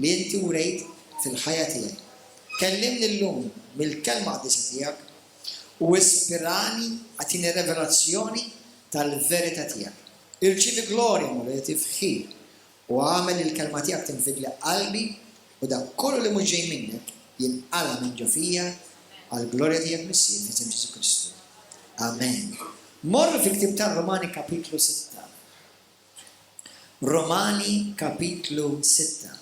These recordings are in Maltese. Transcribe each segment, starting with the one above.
li inti wrejt fil-ħajja tiegħi. Kellimni llum mill-Kelma Qdisa tiegħek u ispirani agħtini revelazzjoni tal-verità tiegħek. Irċievi glorja, Mulej, tifħir, u agħmel li l-Kelma tiegħek tinfidli qalbi u dak kollu li mhux ġej minnek jinqala' minn ġo fija għall-glorja tiegħek Missier, f'isem Ġesù Kristu. Amen. Morru fil-ktieb tar-Rumani kapitlu sitta. Romani kapitlu sitta.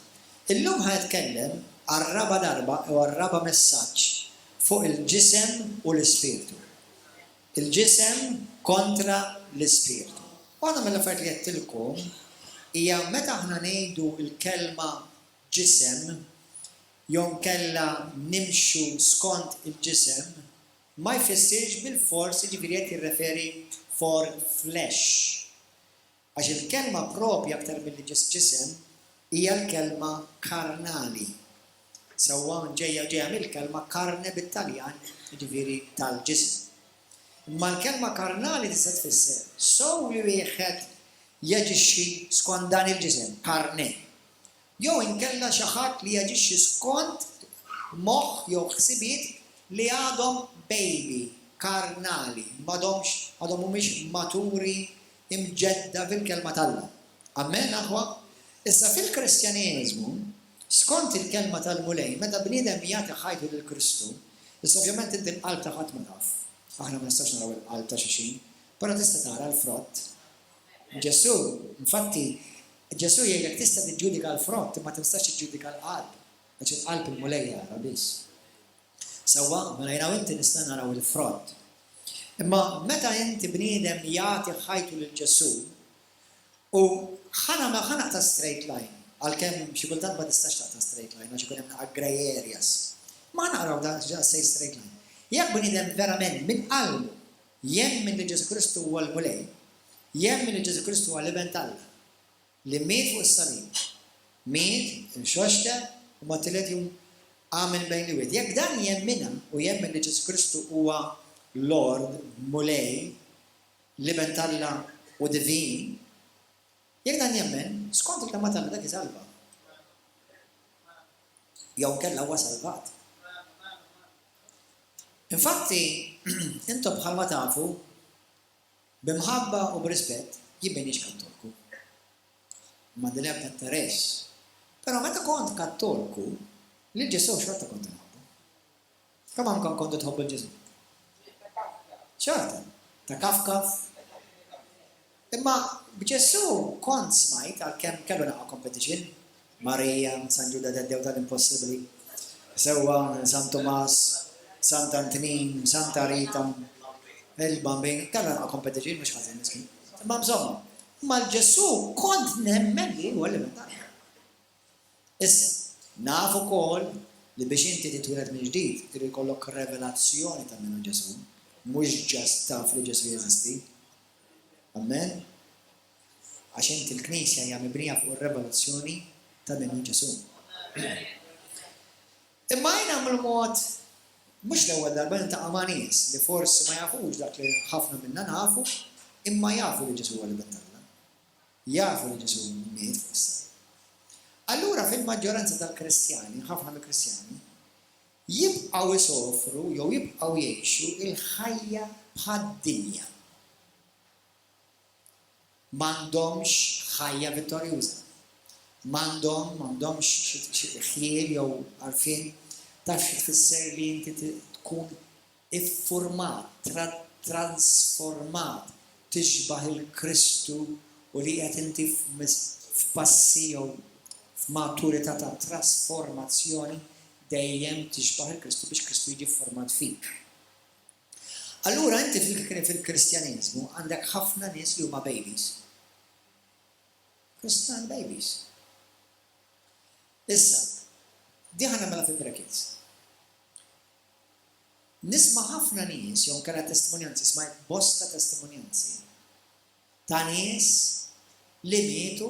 Illum ħa nitkellem għar-raba' darba jew għar-raba' messaġġ fuq il-ġisem u l-ispirtu. Il-ġisem kontra l-ispirtu. Waħda mill-affarijiet li għedtilkom hija meta aħna ngħidu l-kelma ġisem jew inkella nimxu skont il-ġisem, ma jfissirx bilfors, jiġifieri qed jirreferi for flesh. Għax il-kelma proprja aktar milli ġis ġisem hija l-kelma karnali. Sewwa ġejja ġejja mill-kelma carne bit-Taljan, jiġifieri tal-ġisem. Imma l-kelma karnali tista' tfisser sew li wieħed jaġixxi skont dan il-ġisem, carne, jew inkella xi ħadd li jaġixxi skont moħħ jew ħsibiet li għadhom baby, karnali, m'għadhomx, għadhom mhumiex maturi, imġedda bil-Kelma t'Alla. Amen, aħwa? Issa, fil-Kristjaneżmu, skont il-Kelma tal-Mulej, meta bniedem jagħti ħajtu lil Kristu, issa ovvjament inti l-qalb ta' ħadd ma taf, aħna ma nistgħux naraw il-qalb ta' xi xi, però tista' tara l-frott. Ġesù, infatti, Ġesù jgħidlek tista' tiġġudika l-frott imma tinstax tiġġudika l-qalb, għax il-qalb il-Mulej jara biss. Sewwa, mela jiena u inti nistgħu naraw il-frott. Imma meta inti bniedem jagħti ħajtu lil Ġesù, u ħa nagħmel ħa naqta' straight line, għalkemm xi kultant ma tistax taqta' straight line għax ikun hemm naqa' grey areas. Imma ħa naqraw daqsxejn straight line. Jekk bniedem verament minn qalbu Jemmen li Ġesù Kristu huwa l-Mulej, jemmen li Ġesù Kristu huwa l-Iben t'Alla, li miet fuq is-salib, miet, inxoxta u mat-tielet jum qam minn bejn l-imwiet. Jekk dan jemminha u jemmen li Ġesù Kristu huwa Lord, Mulej, l-Iben t'Alla u divin, jekk dan jemmen, skont il-kelma t'Alla dak isalva. jew inkella huwa salvat. Infatti, intom bħalma tafu, b'imħabba u b'rispett jien m'iniex Kattolku. M'għandi l-ebda interess. Però meta kont Kattolku, lil Ġesù xorta kont inħobbu. Sa kemm għandkom kontu tħobbu lil Ġesù? Xorta, ta' kaf kaf. Imma b'Ġesù kont smajt għalkemm kellu naqa' competition, Marija, San Ġuda Taddew tal-impossibbli, sewwa San Tumas, Sant Antnin, Santa Rita, il-Bambin, kellu naqa' competition mhux ħażin miskin. Imma bżomma, imma l-Ġesù kont nemmen li hu elementari. Issa, naf ukoll li biex inti titwieled mill-ġdid irid ikollok revelazzjoni ta' min hu Ġesù, mhux ġast taf li Ġesù jeżisti. Ammen? Għax inti l-Knisja hija mibnija fuq ir-revelazzjoni ta' min hu Ġesù. Imma jiena mill-mod mhux l-ewwel darba niltaqa' ma' nies li forsi ma jafux dak li ħafna minna nafu, imma jafu li Ġesù huwa l-Ibn t'Alla. Jafu li Ġesù miet fuq is-salib. Allura fil-maġġoranza tal-Kristjani, ħafna mill-Kristjani, jibqgħu jsofru jew jibqgħu jgħixu l-ħajja bħad-dinja. M'għandhomx ħajja vittorjuża. M'għandhom m'għandhomx xi ħjiel jew għarfien taf xi tfisser li inti tkun iffurmat, tratransformat, tixbah il-Kristu u li qiegħed inti f'passi jew f'maturità ta' trasformazzjoni dejjem tixbah il-Kristu biex Kristu jiġi fformat fik. Allura inti fil-Kristjaniżmu għandek ħafna nies li huma babies. Kristjan babies. Issa, diħan għamela fil-brackets. Nisma' ħafna nies jew inkella testimonjanzi, smajt bosta testimonjanzi ta' nies li mietu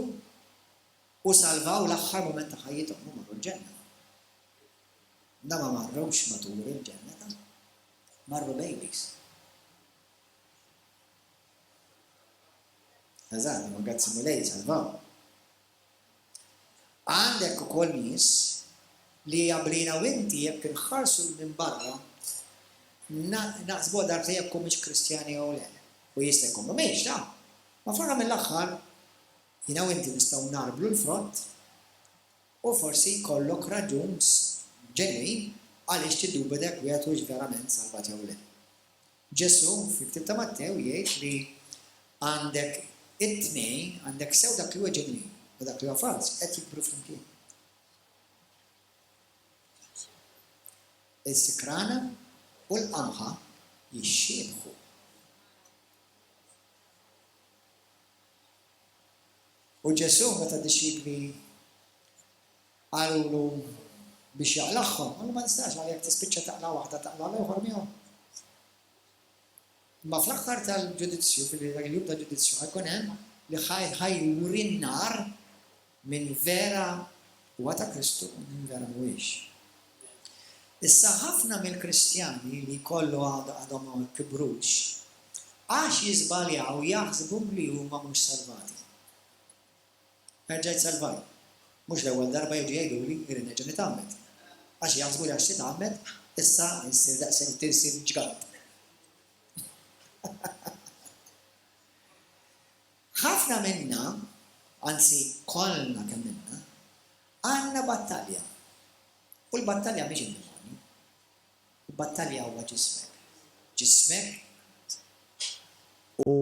u salvaw l-aħħar mument ta' ħajjithom u marru l-Ġenna. Imma ma marrux matur il-Ġenna ta'. Marru babies. Eżatt, imma grazzi Mulej salvaw. Għandek ukoll nies li jagħmlin hawn inti jekk inħarsu 'l minn barra naħsbuha darbtejn jekk humiex Kristjani jew le. U jista' jkun m'humiex ta'! Ma fl-aħħar mill-aħħar jiena u inti nistgħu ngħarblu l-frott u forsi jkollok raġun ġenwin għaliex tiddubita jekk wieħed huwiex verament salvat jew le. Ġesù fil-Ktieb ta' Mattew jgħid li għandek it-tnejn, għandek sew dak li huwa ġenwin u dak li huwa falz qed jikbru flimkien. Is-sikrana u l-qamħa jixxiebħu. U Ġesù meta dixxipli Qalulu biex jaqlagħhom. Qallu, Ma nistax, għal jekk tispiċċa taqla' waħda, taqla' l-ieħor miegħu. Imma fl-aħħar tal-ġudizzju, ġifieri dak il-jum tal-ġudizzju, ħajkun hemm li ħajuri n-nar min vera huwa ta' Kristu u min vera mhuwiex. Issa ħafna mill-Kristjani li jkollu għadhom ma kibrux għax jiżbaljaw jaħsbu li huma mhux salvati. Erġa' jsalvani. Mhux l-ewwel darba jiġu jgħiduli irrid nerġa' nitgħammed. Għax jaħsbu li għax titgħammed, issa issir daqshekk tirsin ġgant. Ħafna minna, anzi kollna kemm ilna, għandna battalja. U l-battalja mhix id-demonju. Tibbattalja huwa ġismek. Ġismek u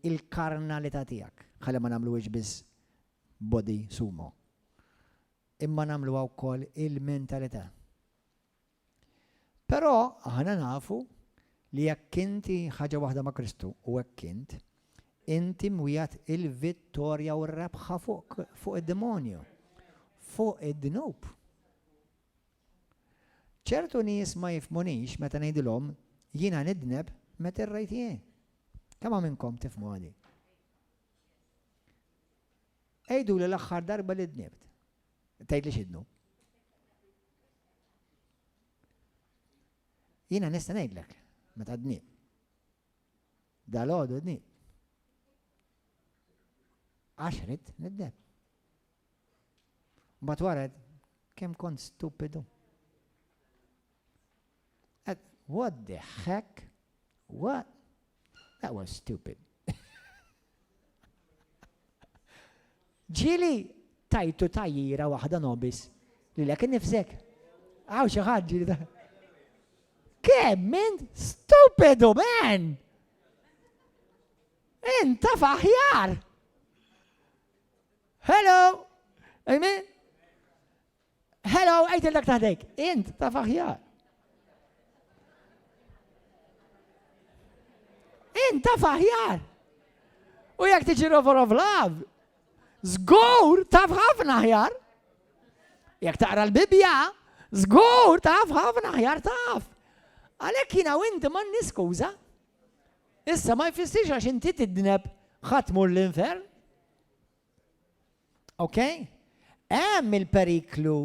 l-karnalità tiegħek. Ħalli ma nagħmluhiex biss body sumo. Imma nagħmluha wkoll il-mentalità. Però aħna nafu li jekk inti ħaġa waħda ma' Kristu, u hekk int, inti mwiegħed il-vittorja u r-rebħa fuq id-demonju, fuq id-dnub. Ċertu nies ma jifhmunix meta ngħidilhom jiena nidneb meta irrajt jien. Kemm hawn minnkom tifhmu għali? Għiduli l-aħħar darba li dnibt. Tgħidli x'idnu. Jiena nista' ngħidlek meta dnib. Dal-għodu dnib. Għax rid nidneb. Mbagħad wara kemm kont stupidu. What the heck? What? That was stupid. Ġili tajtu tajjira waħda nobis li l nifsek. Għaw xi ħadd ġili ta' Kemm minn stupidu man! Inta faħjar! Hello! Amen? Hello, għajt il-dak taħdejk. Int ta' faħjar. Int ta' faħjar. U jek tiġi rover of love, zgur ta' ħafna ħjar. Jek taqra l-Bibja, zgur ta' ħafna ħjar taf. Għalek jina u inti man niskuza. Issa ma jfissirx għax inti tidneb ħatmur l-infern. Ok? Hemm il-periklu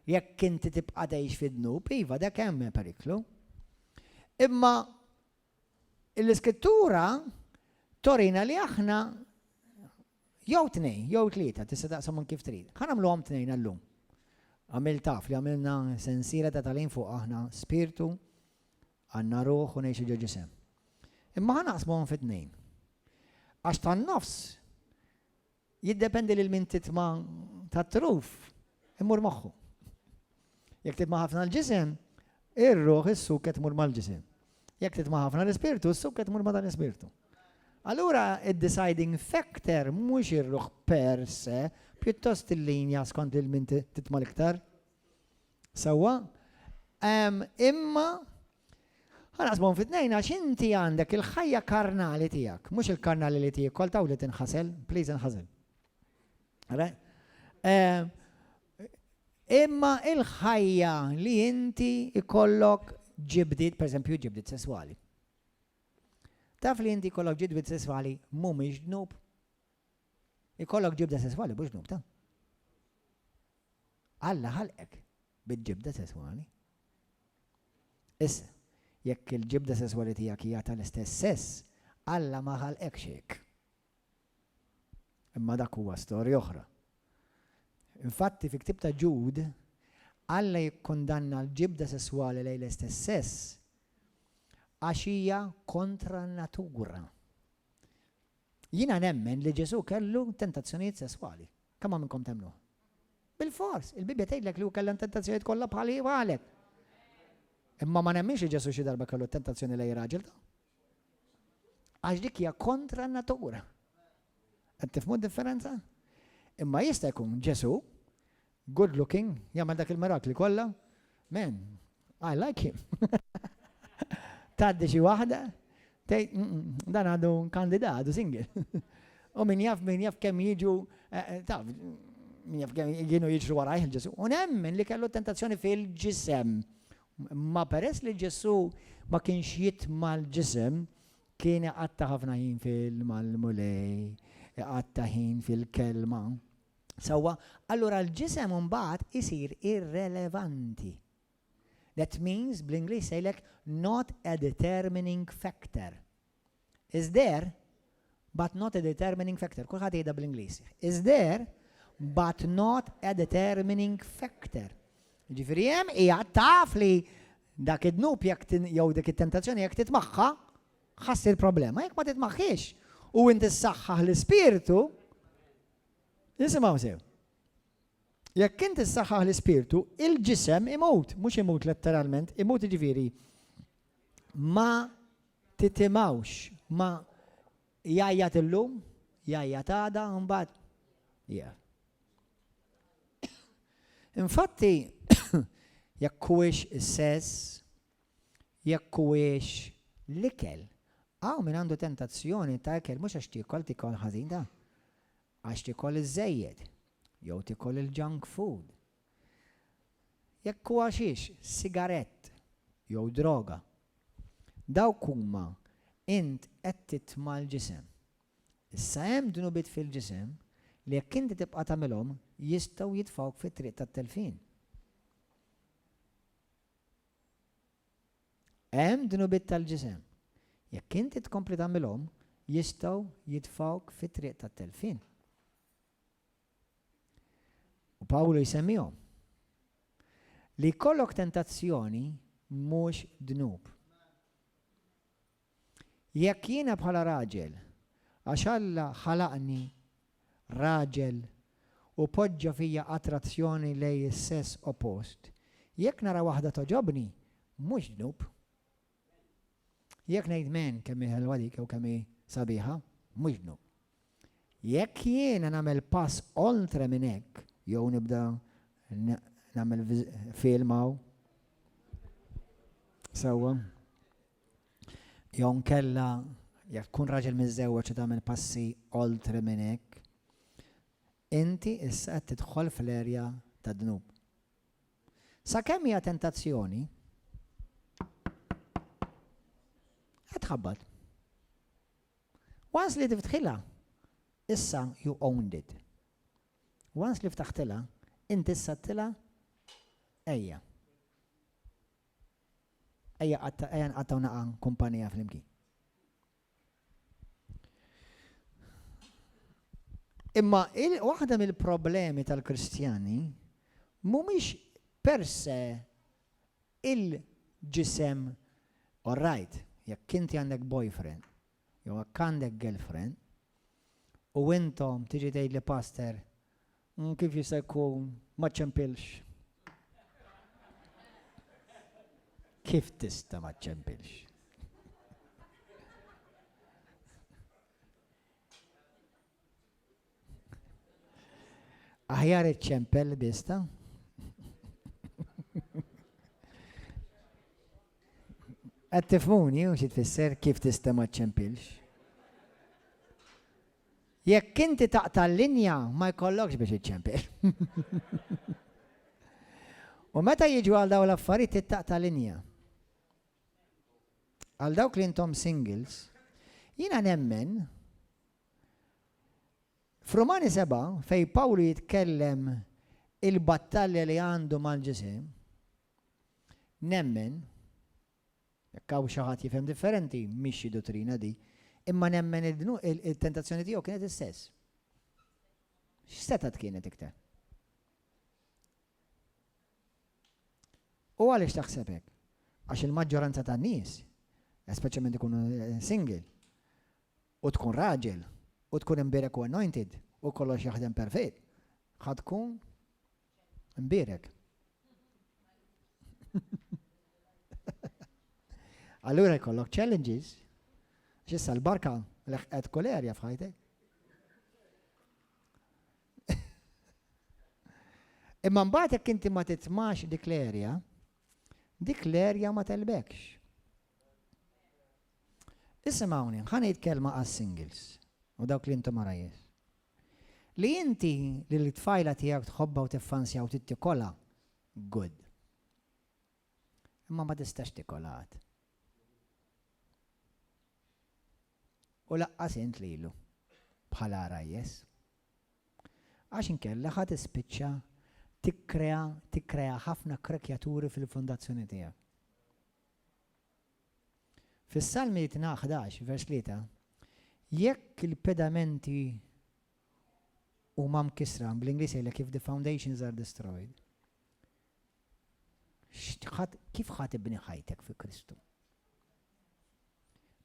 jekk inti tibqa' tgħix fid-dnub, iva dak hemm periklu. Imma l-iskrittura torina li aħna jew tnejn, jew tlieta, tista' taqsam kif trid. Ħa nagħmluhom tnejn għallum. Għamil taf li għamilna sensiela ta' talim fuq aħna spirtu, Għandna ruħ u ngħixu ġo ġisem. Imma ħa naqsmuhom fi tnejn. Għax tan-nofs jiddependi lil min titma' tat-truf imur moħħu. Jekk titma' ħafna l-ġisem, ir-ruħ is-suket tmur mal-ġisem. Jekk titma' ħafna l-ispirtu, s-suket tmur ma' dan l-ispirtu. Allura id-deciding factor mhux ir-ruħ per se, pjuttost il-linja skont il-min titma l-iktar. Sewwa? Ehm, imma Ħa naqsmuhom fi tnejn għax inti għandek il-ħajja karnali tiegħek, mhux il-karnali li tiekol taw li tinħasel, please inħasel. Right? Ehm, imma il-ħajja li inti ikollok ġibdit, per esempio, ġibdit sesswali. Taf li inti kollok ġibdit sesswali mhumiex dnub? Ikollok ġibda sesswali mhux dnub ta'. Alla ħalqek bil-ġibda sesswali. Issa, jekk il-ġibda sesswali tiegħek hija tal-istess sess, Alla ma ħalqekx hekk. Imma dak huwa storja oħra. Infatti fi ktieb ta' Ġud, Alla jikkundanna l-ġibda sesswali lejn l-istess sess għax hija kontra n-natura. Jiena nemmen li Ġesù kellu tentazzjonijiet sesswali. Kemm hawn minnkom temmnuh? Bilfors! Il-Bibbja tgħidlek li hu kellha n-tentazzjonijiet kollha bħali u bħalek. Imma ma nemminx li Ġesù xi darba kellu tentazzjoni lejn raġel ta'. Għax dik hija kontra n-natura. Qed tifhmu d-differenza? Imma jista' jkun Ġesù Good looking, jagħmel dak il-mirakli kollha. Man, I like him. Tgħaddi xi waħda, tgħid dan għadu kandida, għadu single. U min jaf, min jaf kemm jiġu, eh, eh, taf, min jaf kemm jienu jiġru warajh il-Ġesu. U nemmen li kellu tentazzjoni fil-ġisem. Ma peress li Ġesu ma kienx jitma l-ġisem, kien għatta ħafna ħin fil-mal-mulej, għatta ħin fil-kelma. Sewwa, allura l-ġisem imbagħad isir irrelevanti. That means, bl-Ingliż se jgħidlek not a determining factor. Is there, but not a determining factor. Kulħadd jgħidha bl-Ingliż. Is there, but not a determining factor. Ġifieri hemm hija taf li dak id-dnub jekk jew dik it-tentazzjoni jekk titmaħħa ħassir problema. Jekk ma titmaħħiex u inti ssaħħaħ l-ispirtu, Nisimgħu sew. Jekk int issaħħaħ l-ispirtu, il-ġisem imut, mhux imut letteralment, imut jiġifieri ma titimawx, ma jajjat illum, jajjat għada, mbagħad. Yeah. Infatti, jekk huwiex is-sess, Jekk huwiex l-ikel, hawn min għandu tentazzjoni ta' ikel mhux għax tiekol tiekol ħażin da! Għax tiekol iż-żejjed, jew tiekol il-junk food. Jekk hu għaxix, sigarett, jew droga. Dawk huma, int qed titma' l-ġisem. Issa hemm dnubiet fil-ġisem li jekk inti tibqa' tagħmilhom jistgħu jitfgħuk fit-triq tat-telfien. Hemm dnubiet tal-ġisem. Jekk inti tkompli tagħmilhom, jistgħu jitfgħuk fit-triq tat-telfien. U Pawlu jsemmihom. Li jkollok tentazzjoni mhux dnub. Jekk jiena bħala raġel, għax Alla ħalaqni raġel u poġġa fija attrazzjoni lejn is-sess oppost, jekk nara waħda togħġobni, mhux dnub. Jekk ngħid, 'Man, kemm hi ħelwa dik' jew 'Kemm hi sabiħa', mhux dnub. Jekk jiena nagħmel pass oltre minn hekk jew nibda nagħmel film hawn. Sewwa. Jew nkella jekk tkun raġel miżżewweġ u tagħmel passi oltre minn hekk, inti issa qed tidħol fl-erja tad-dnub. Sakemm hija tentazzjoni, qed tħabbat. Once li tiftħilha, issa you owned it. Once li ftaħtilha, int issa għdtilha ejja. Ejja ejja nqattgħu naqa' kumpanija flimkien. Imma waħda mill-problemi tal-Kristjani mhumiex per se il-ġisem Orrajt, jekk inti għandek boyfriend jew jekk għandek girlfriend u intom tiġi tgħidli Pastor kif jista' jkun ma ċċempilx? Kif tista' ma ċċempilx? Aħjar iċċempel bista? Qed tifhmuni u xi tfisser kif tista' ma ċċempilx? Jekk inti taqta' l-linja ma jkollokx biex iċċempel. U meta jiġu għal dawn l-affarijiet ittaqta' linja. Għal dawk li intom singles, jiena nemmen F'Rumani sebgħa, fejn Pawlu jitkellem il-battalja li għandu mal-ġisem, nemmen, jekk hawn xi ħadd jifhem differenti, mhix xi duttrina di, imma nemmen il-tentazzjoni tiegħu kienet istess. X'setat kienet iktar? U għaliex taħseb hekk? Għax il-maġġoranza tan-nies, speċjalment ikunu eh, single, u tkun raġel, u tkun imbierek u anointed, u kollox jaħdem perfett, ħa tkun imbierek. Allura jkollok challenges, xissa l-barka l-ħqet kull erja f'ħajtek. Imma mbagħad jekk inti ma titmax dik l-erja, dik l-erja ma telbekx. Isimgħuni, ħa ngħid kelma għas-singles u dawk li intom għarajjes. Li inti lill-tfajla tiegħek tħobbha u tiffansja u trid tikolha, good. Imma ma tistax tikolha għad. U laqqas int lilu bħala għarajjes. Għax inkella ħa tispiċċa tikkrea tikkrea ħafna krekjaturi fil-fondazzjoni tiegħek. Fis-Salmi itna ħdax, vers tlieta, Jekk il-pedamenti huma mkissra, bl-Ingliż jgħidlek if the foundations are destroyed, kif ħa tibni ħajtek fi Kristu?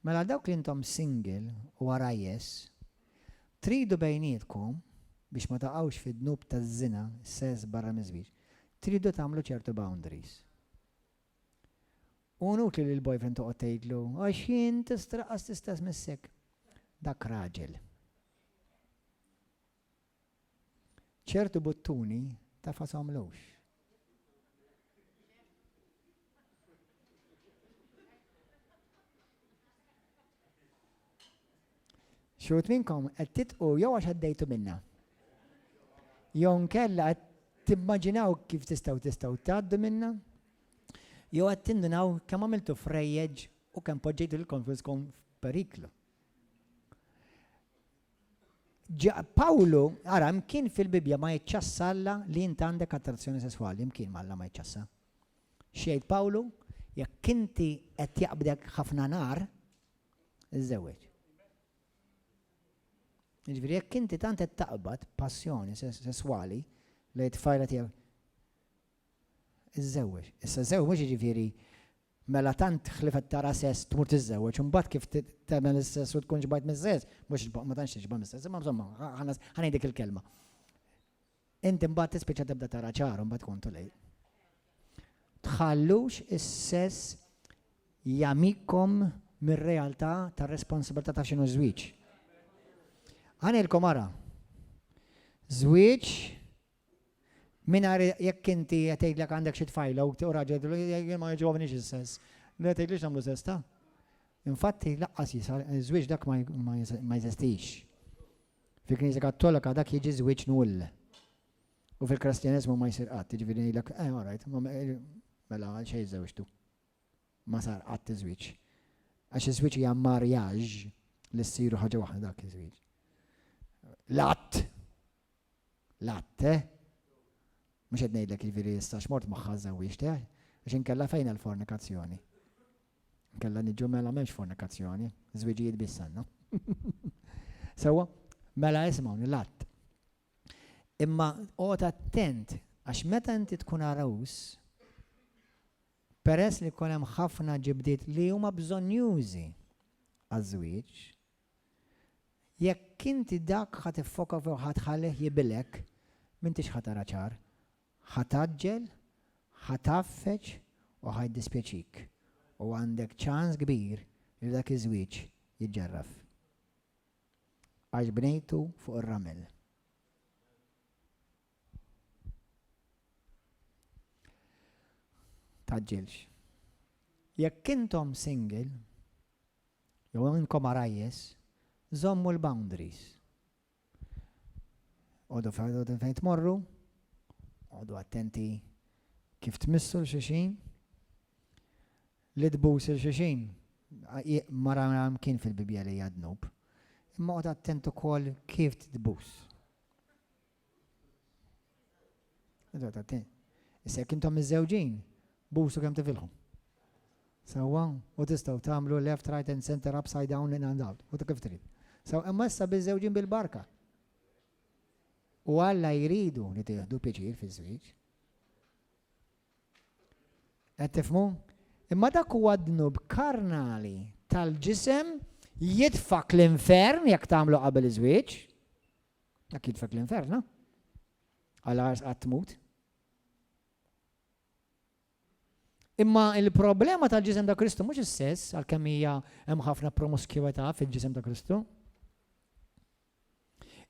Mela għal dawk li intom single u għarajjes, tridu bejnietkom biex ma taqgħux fid-dnub taż-żina, sess barra miż-żwieġ, tridu tagħmlu ċertu boundaries. Hu inutli li l-boyfriend toqgħod tgħidlu, għax jien tistraqqas l-istess missek. Dak raġel. Ċertu buttuni taf ma tagħmlux. Xi wħud minnkom qed titqu jew għax għaddejtu minnha. Jew inkella qed timmaġinaw kif tistgħu tistgħu tgħaddu minnha. Jew qed tindunaw kemm għamiltu frejjeġ u kemm poġġejtu lil konfuskom f'periklu. Pawlu, ara, mkien fil-Bibja ma jċassalla li jint għandek attrazzjoni sesswali, mkien malla ma jċassa. Xejt Pawlu, jekk inti qed jaqbdek ħafna nar, iżżewweġ. Jiġifieri jekk inti tant qed taqbad passjoni sesswali lejn it-tfajla tiegħek, iżżewweġ. Issa żewweġ jiġifieri mela tant ħlief qed tara sess tmur tiżżewweġ u mbagħad kif tagħmel is-sess u tkun xbajt mis-sess, mhux ma tantx tixba' mis-sess, imma insomma ħa ngħidik il-kelma. Inti mbagħad tispiċċa tibda tara ċar imbagħad ikun too late. Tħallux is-sess jagħmikom mir-realtà tar-responsabilità ta' x'inhu żwieġ. Ħanilkom ara. Żwieġ mingħajr jekk inti qed tgħidlek għandek xi tfajla u raġel jien ma jiġobniex is-sess. Le tgħidlix nagħmlu sess ta'. Infatti laqqas żwieġ dak ma jeżistix. Fil-Knisja Kattolika dak jiġi żwieġ null. U fil-Kristjaneżmu ma jsir qatt, jiġifieri ngħidlek, eh, all right, mela għal xejn żewġtu. Ma sar qatt iż-żwieġ. Għax iż-żwieġ hija marjaġ li ssiru ħaġa waħda dak iż-żwieġ. L-att, l-att, eh? Mhux qed ngħidlek jiġifieri issa x'mort magħha żewġt, eh? Għax inkella fejn għall-fornikazzjoni. Kella niġu mela m'hemmx fornikazzjoni, żwiġijiet biss għandna. Sewwa, mela isma' l-att. Imma qgħod attent għax meta inti tkun għarus, peress li jkun hemm ħafna ġibdiet li huma bżonnjużi għaż-żwieġ, jekk inti dak ħa tiffoka fuq ħadd ħalih jibilek, m'intix ħa tara ċar, Ħa tgħaġġel, ħa tgħaffeġ u ħa jiddispjaċik, u għandek ċans kbir li dak iż-żwieġ jiġġarraf. Għax bnejtu fuq ir-ramel. Tgħaġġilx. Jekk intom single, jew inkom għarajjes, żommu l-boundaries. Għodu ferħdudin fejn tmorru, għodu attenti kif tmissu l-xixin, li tbus il-xixin, mara kien fil-Bibja li jadnub, imma għod attentu kol kif tbus. Issa jekk intom miżżewġin, busu kemm tifilħu. Sewwa? U tistgħu tagħmlu left, right and center, upside down, in and out, u ta' kif trid. Sew imma issa biżżewġin bil-barka. U Alla jridu li tieħdu pjaċir fiż-żwieġ. Qed tifhmu? Imma dak huwa dnub karnali tal-ġisem jitfak l-infern jekk tagħmlu qabel iż-żwieġ. Dak jitfek l-infern, ha? Għal ars qatt tmut. Imma il-problema tal-ġisem ta' Kristu mhux is-sess, għalkemm hija hemm ħafna promuskjwità fil-ġisem ta' Kristu.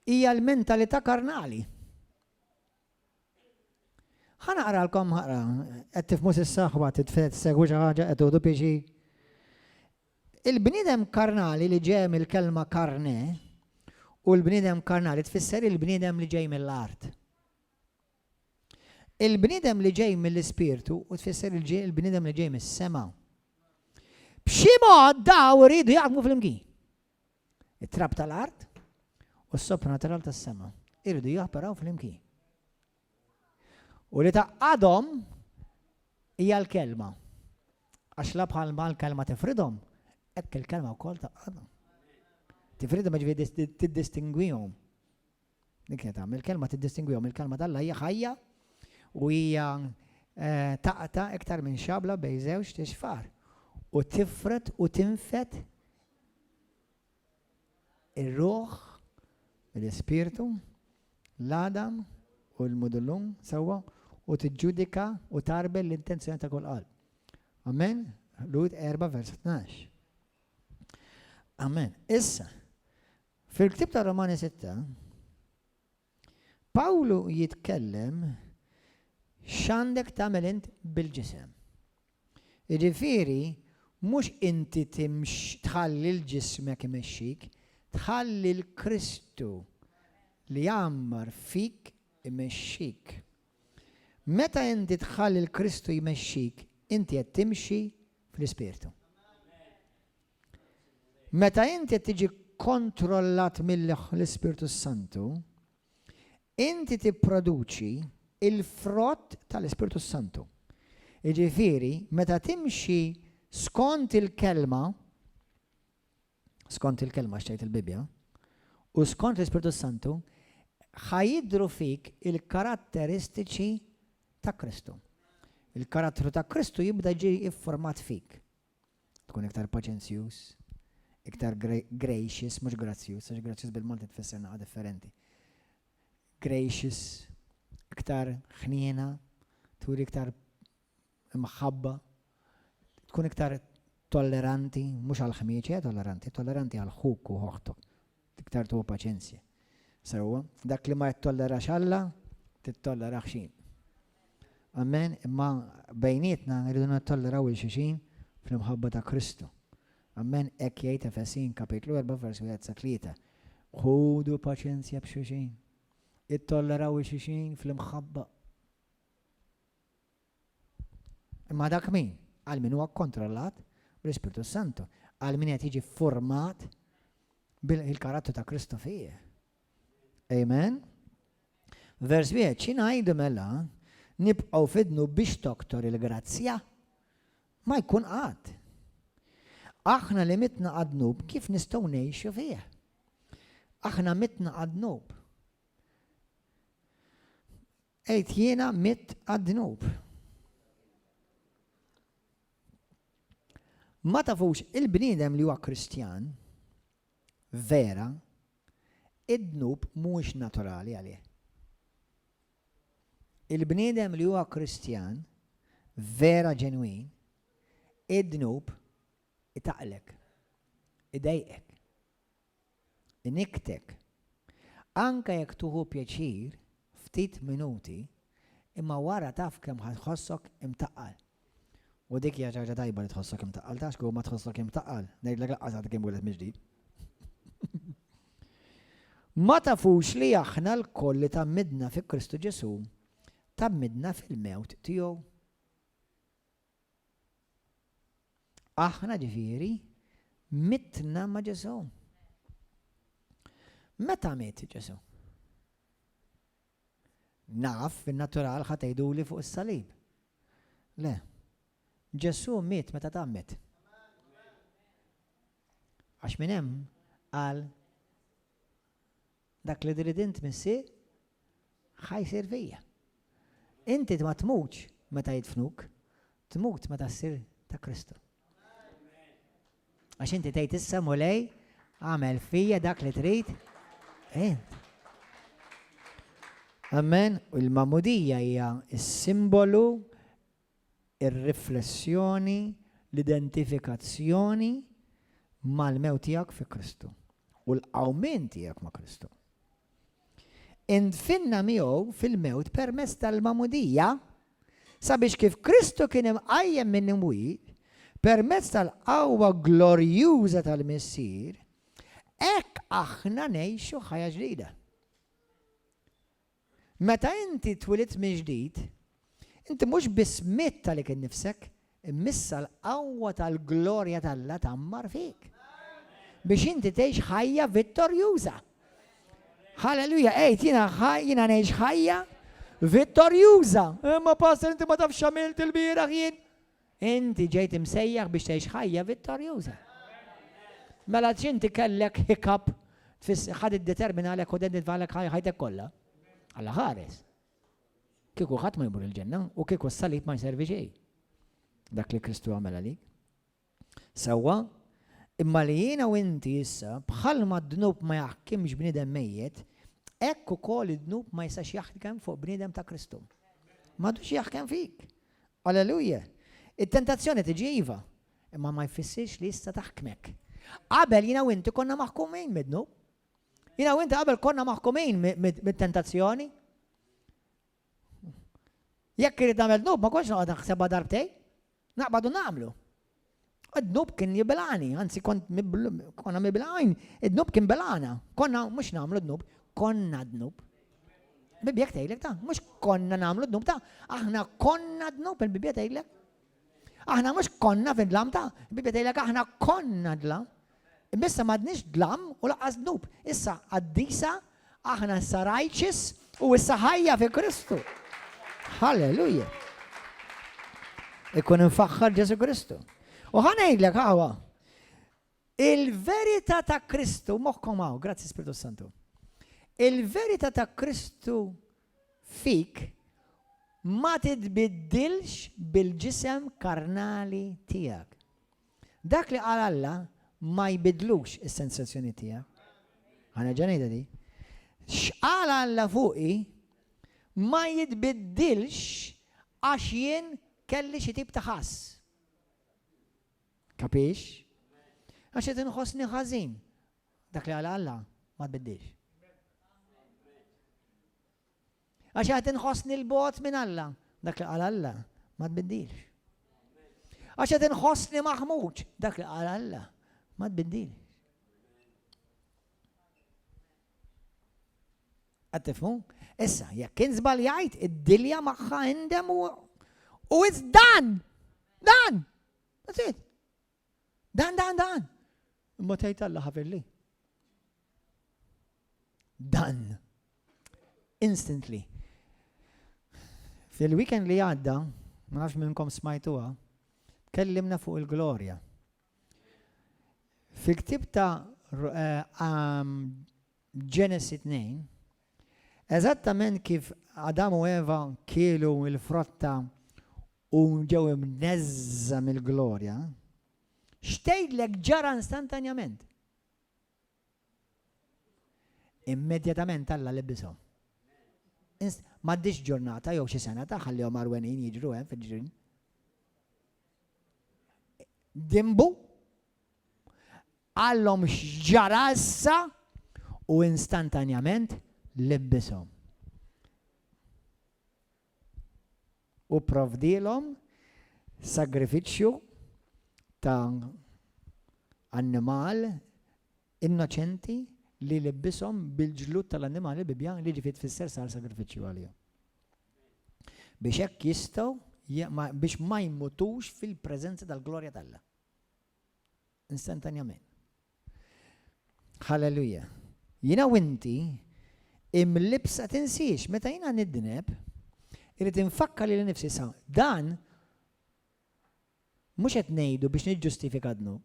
Hija l-mentalità karnali. Ħana qaralkom ħara, qed tifmu s'issa ħwa titfed segwi xi ħaġa qed tuħdu pixi. Il-bniedem karnali li ġej mill-kelma carne, u l-bniedem karnali tfisser il-bniedem li ġej mill-art. Il-bniedem li ġej mill-ispirtu u tfisser il-bniedem li ġej mis-sema. B'xi mod daw iridu jaħdmu flimkien. It-trab tal-art u s-sopranatural tas-sema iridu joperaw flimkien. U li tgħaqqadhom hija l-Kelma. Għax la bħal ma l-Kelma tifridhom, hekk il-Kelma wkoll tgħaqqadhom. Tifridhom jiġifieri tiddistingwihom. Dik qed tagħmel il-Kelma tiddistingwihom, il-Kelma tal-Alla hija ħajja u hija eh, taqta iktar minn xabla bejn żewġ tixfar u tifret u tinfet Ir-ruħ, l-ispirtu, l-għadam u l-mudullum sewwa u tiġġudika u tarbel l-intenzjoni ta' kull qalb. Amen? Lud 4 vers 12. Amen. Issa, fil-ktib ta' Romani 6, Pawlu jitkellem x'għandek tagħmel int bil-ġisem. Jiġifieri mhux inti tħalli l-ġismek imexxik, tħalli l-Kristu li jgħammar fik imexxik. Meta inti tħalli l-Kristu jmexxik, inti qed timxi fl-Ispirtu. Meta int qed tiġi kkontrollat mill-Ispirtu s-Santu, inti tipproduċi l-frott tal-Ispirtu s-Santu. Jiġifieri, meta timxi skont il-Kelma, skont il-Kelma x'tgħid il-Bibbja, u skont l-Ispirtu s-Santu, ħa jidhru fik il-karatteristiċi ta' Kristu. Il-karattru ta' Kristu jibda jiġi ffurmat fik. Tkun iktar paċenzjuż, iktar gracious, mhux grazzjuż, għax grazzjuż bil-Malti tfisser naħa differenti. Gracious, iktar ħniena, turi iktar imħabba, tkun iktar tolleranti, mhux għall-ħmieġ, eh, tolleranti, tolleranti għal ħuk u ħoħtok. Iktar tuħu paċenzja. Sewwa, dak li ma jittollerax Alla, tittollera ħxin. Amen, imma bejnietna rridu nittolleraw il xixin fl-imħabba ta' Kristu. Amen, ek jgħid Efesin kapitlu 4 versu 1 sa 3. Ħudu paċenzja b'xuxin. Ittolleraw il xixin fl-imħabba. Imma dak min? Għal min huwa kkontrollat bl-Ispirtu Santu, għal min qed jiġi format bil-karattru ta' Kristu fih. Amen. Vers wieħed, xi ngħidu mela nibqgħu fidnu biex toktor il-grazzja? Ma jkun qatt. Aħna li mitna għadnub kif nistgħu ngħixu fih? Aħna mitna għadnub. Għid jiena mitt għad-dnub. Ma tafux il-bniedem li huwa Kristjan vera id-dnub mhuwiex naturali għalih. Il-bniedem li huwa Kristjan vera ġenwin id-dnub itaqlek, idejqek. Iniktek. Anke jekk tuħu pjaċir ftit minuti imma wara taf kemm ħa tħossok imtaqqal. U dik hija xi ħaġa tajba li tħossok imtaqqal, taf x'kieku ma tħossok imtaqqal, ngħidlek laqqas għad kien wieled mill-ġdid. Ma tafux li aħna lkoll li tgħammidna fi Kristu Ġesù tgħammidna fil-mewt tiegħu? Aħna ġifieri mitna ma' Ġesù. Meta miet Ġesù? Naf fin-natural ħa tgħiduli fuq is-salib. Le. Ġesù miet meta tgħammed. Għax minn hemm qal Dak li trid int, Missi, ħa jsir fija. Inti ma tmutx meta jidfnuk, tmut meta ssir ta' Kristu. Għax inti tgħid issa mulej, għamel fija dak li trid int. Amen, u l-mamudija hija s-simbolu ir-riflessjoni, l-identifikazzjoni mal-mewt tiegħek fi Kristu u l-qawmien tiegħek ma' Kristu. Indfinna miegħu fil-mewt permezz tal-magħmudija sabiex kif Kristu kien imqajjem minn imwiet permezz tal-qawwa glorjuża tal-Missier, hekk aħna ngħixu ħajja ġdida. Meta inti twilidt mill-ġdid, inti mhux biss mitt għalik innifsek, imma issa l-qawwa tal-glorja t'Alla tgħammar fik, biex inti tgħix ħajja vittorjuża. Halleluja, għid, jiena jiena ngħix ħajja vittorjuża. Imma pastor inti ma tafx x'għamilt ilbieraħ jien. Inti ġejt imsejjaħ biex tgħix ħajja vittorjuża. Mela għaliex inti kellek hiccup ħad iddeterminalek u identitvalek ħajtek kollha? Alla ħares. Kieku ħadd ma jmur il-ġenna u kieku s-salib ma jservi xejn. Dak li Kristu għamel għalik. Sewwa, imma li jiena u inti issa bħalma d-dnub ma jaħkimx bniedem mejjet, hekk ukoll id-dnub ma jistax jaħkem fuq bniedem ta' Kristu. M'għadux jaħkem fik. Alleluja! It-tentazzjoni tiġi iva, imma ma jfissirx li issa taħkmek. Qabel jiena u inti konna maħkumin mid-dnub. Jiena u inti qabel konna maħkumin mit-tentazzjoni. Jekk irid nagħmel dnub ma kontx noqgħod naħsebha darbtejn. Naqbad u nagħmlu. Id-dnub kien jibilgħani, anzi kont konna mibilgħin, id-dnub kien belgħana. Konna mhux nagħmlu dnub, konna dnub. Bibjek tgħidlek ta' mhux konna nagħmlu dnub ta' aħna konna dnub il-Bibja tgħidlek. Aħna mhux konna fid-dlam ta' Bibja tgħidlek aħna konna dlam. Imma issa m'għadniex dlam u lanqas dnub. Issa qaddisa, aħna issa righteous u issa ħajja fi Kristu. Halleluja! Ikun infaħħar Ġesu Kristu. U ħa ngħidlek aħwa, il-verità ta' Kristu, moħħkom hawn, grazzi Spiritu Santu. Il-verità ta' Kristu fik ma titbiddilx bil-ġisem karnali tiegħek. Dak li qal Alla ma jbiddlux is-sensazzjonijiet tiegħek. Ħa nerġa' ngħidha din. X'qal Alla fuqi ma jitbiddilx għax jien kelli xi tip ta' ħass. Kapix? Għax qed inħossni ħażin. Dak li qal Alla ma tbiddilx. Għax qed inħossni 'l bogħod minn Alla. Dak li qal Alla ma tbiddilx. Għax qed inħossni maħmuġ. Dak li qal Alla ma tbiddilx. Qed tifhmu? Issa, jekk kien żbaljajt, id-dilja magħha indem u u dan! Dan! That's it. Dan, dan, dan. Imma tgħid Alla ħafir li. Dan. Instantly. Fil-weekend li għadda, ma nafx minnkom smajtuha, kellimna fuq il-glorja. Fil-ktib ta' eh, um, Genesis 2, eżattament kif Adam u Eva kielu il-frotta u ġew imneżża mill-glorja, x'tgħidlek ġara instantanjament? Immedjatament Alla lebbishom. M'għaddix ġurnata jew xi sena ta' ħallihom arwenin jiġru hemm fil-ġrin. Dimbu għallhom x'ġara issa u instantanjament lebbishom. u pprovdielhom sagrifiċċju ta' annimal innoċenti li libbishom bil-ġlud tal-annimal ibibja li ġifieri tfisser sar sagrifiċċju għalihom. Biex hekk jistgħu biex ma jmutux fil-preżenza tal-glorja t'Alla. Instantanjament. Halleluja. Jiena u inti imlibsa tinsiex meta jiena nidneb irrid infakkar lili nnifsi sa dan mhux qed ngħidu biex niġġustifika dnub.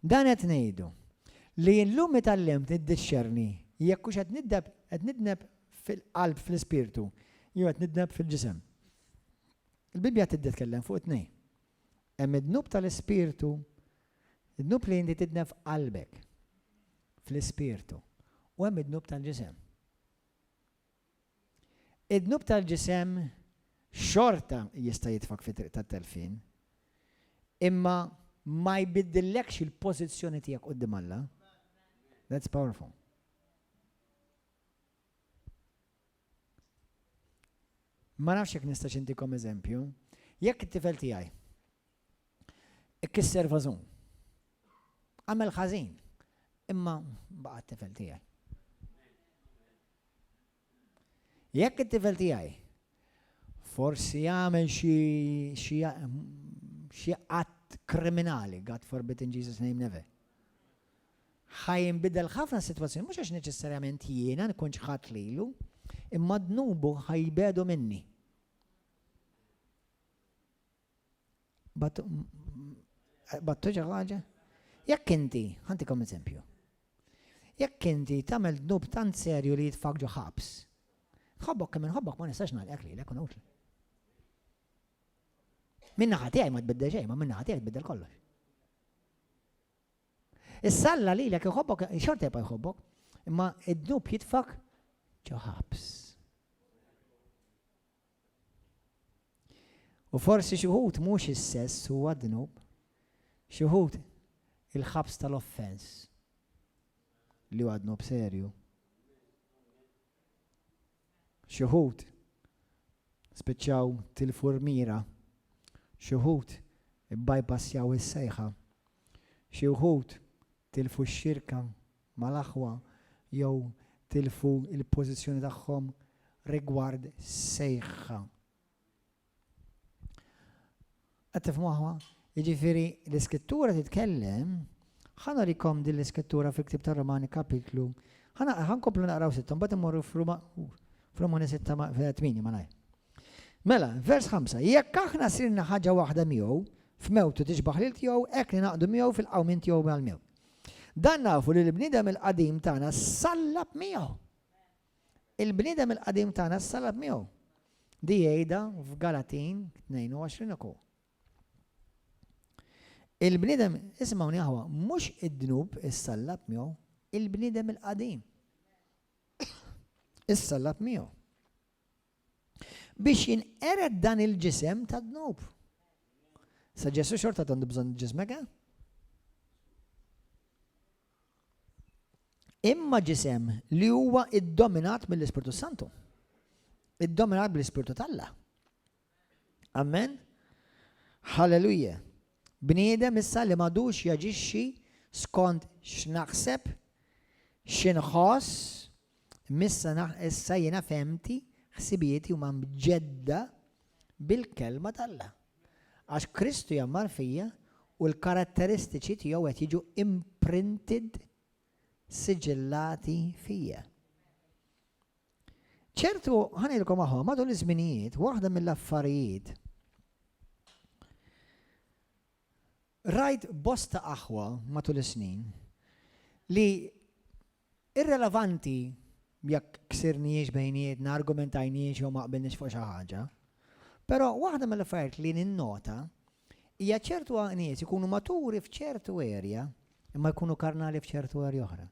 Dan qed ngħidu li llum itallimt niddixxerni jekk hux qed nidneb qed nidneb fil-qalb fl-ispirtu jew qed nidneb fil-ġisem. Il-Bibbja tibda tkellem fuq it-tnejn. Hemm id-dnub tal-ispirtu, id-dnub li inti tidneb f'qalbek, fl-ispirtu, u hemm id-dnub tal-ġisem. Id-dnub tal-ġisem xorta jista' jitfak fit-triq tat-telfien, imma ma jbiddillekx il-pożizzjoni tiegħek quddiem Alla. That's powerful. Ma nafx jekk nistax intikom eżempju. Jekk it-tifel tiegħi ikkisser vażun, għamel ħażin, imma baqa' t-tifel tiegħi. Jekk it-tifel tiegħi forsi għamel xi qatt kriminali, God forbid in Jesus name never. Ħa jinbidel ħafna s-sitwazzjoni, mhux għax neċessarjament jiena nkun ċħadt lilu, imma dnubu ħa jibegħdu minni. Battu xi ħaġa? Jekk inti, ħantikom eżempju. Jekk inti tagħmel dnub tant serju li jitfak ġo ħabs. Ħobbok kemm inħobbok ma nistax nagħlqek li lekun utli. Minna ħati għaj ma tbiddel xejn, ma minna ħati għaj tbiddel kollox. Issa Alla lilek iħobbok, xorta jibqa' jħobbok, imma id-dnub jitfak ġo ħabs. U forsi xi wħud mhux is-sess huwa dnub, xi wħud il-ħabs tal-offens li huwa dnub serju. Xi wħud spiċċaw tilfu l-mira. Xi wħud ibbajpassjaw is-sejħa. Xi wħud tilfu x-xirka mal-aħwa jew tilfu l-pożizzjoni tagħhom rigward sejħa Qed tifhmu aħwa? Jiġifieri l-Iskrittura titkellem, ħa norikom din l-Iskrittura fil-ktieb tar-Romani kapitlu, ħa nkomplu naqraw sitta, mbagħad immorru f'Ruma f'Romani sitta ma' tmini malajr. Mela, vers 5, jekk aħna sirna ħaġa waħda miegħu, f'mewtu tixbaħ lil tiegħu, hekk ninaqdu miegħu fil-qawmien tiegħu mal-mew. Dan nafu li l-bniedem il-qadim tagħna sallab miegħu. Il-bniedem il-qadim tagħna ssallab miegħu. Di jgħidha f'Galatin 22 uko. Il-bniedem, ismgħuni aħwa, mhux id-dnub issallab miegħu, il-bniedem il-qadim issallab miegħu. biex jinqered dan il-ġisem tad-dnub. Sa Ġesu xorta għandu bżonn ġismek, eh? Imma ġisem li huwa iddominat mill-Ispirtu Santu. Iddominat mill-Ispirtu tal-la. Amen? Halleluja. Bniedem issa li m'għadux jaġixxi skont x'naħseb, x'inħoss, m'issa issa jiena fehmti, ħsibieti huma mġedda bil-Kelma t'Alla. Għax Kristu jgħammar fija u l-karatteristiċi tiegħu qed jiġu imprinted siġillati fija. Ċertu, ħa ngħidilkom aħwa, matul iż-żminijiet, waħda mill-affarijiet rajt bosta aħwa matul is-snin li irrelevanti jekk ksirniex bejnietna, argumentajniex jew ma qbilniex fuq xi ħaġa. Però waħda mill-affarijiet li ninnota Hija ċertu għaqnijiet ikunu maturi f'ċertu erja imma jkunu karnali f'ċertu erja oħra.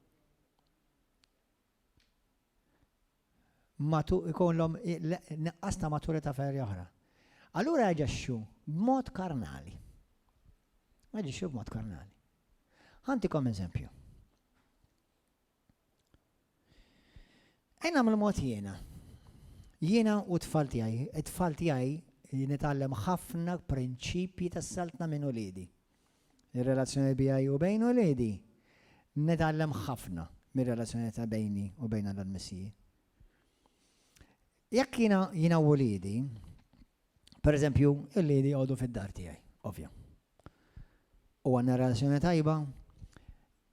Matu ikollhom neqqas ta' maturità f'erja oħra. Allura jaġixxu b'mod karnali. Jaġixxu b'mod karnali. Ħantikom eżempju. Ejn nagħmlu mod jiena. Jiena u t-tfal tiegħi, it-tfal tiegħi nitgħallem ħafna prinċipji tas-Saltna minn uliedi. Ir-relazzjoni tiegħi u bejn uliedi nitgħallem ħafna mir-relazzjoni ta' bejni u bejn Alla l-Missija. Jekk jiena jiena u uliedi, pereżempju, uliedi jgħodu fid-dar tiegħi, ovvja. U għandna relazzjoni tajba,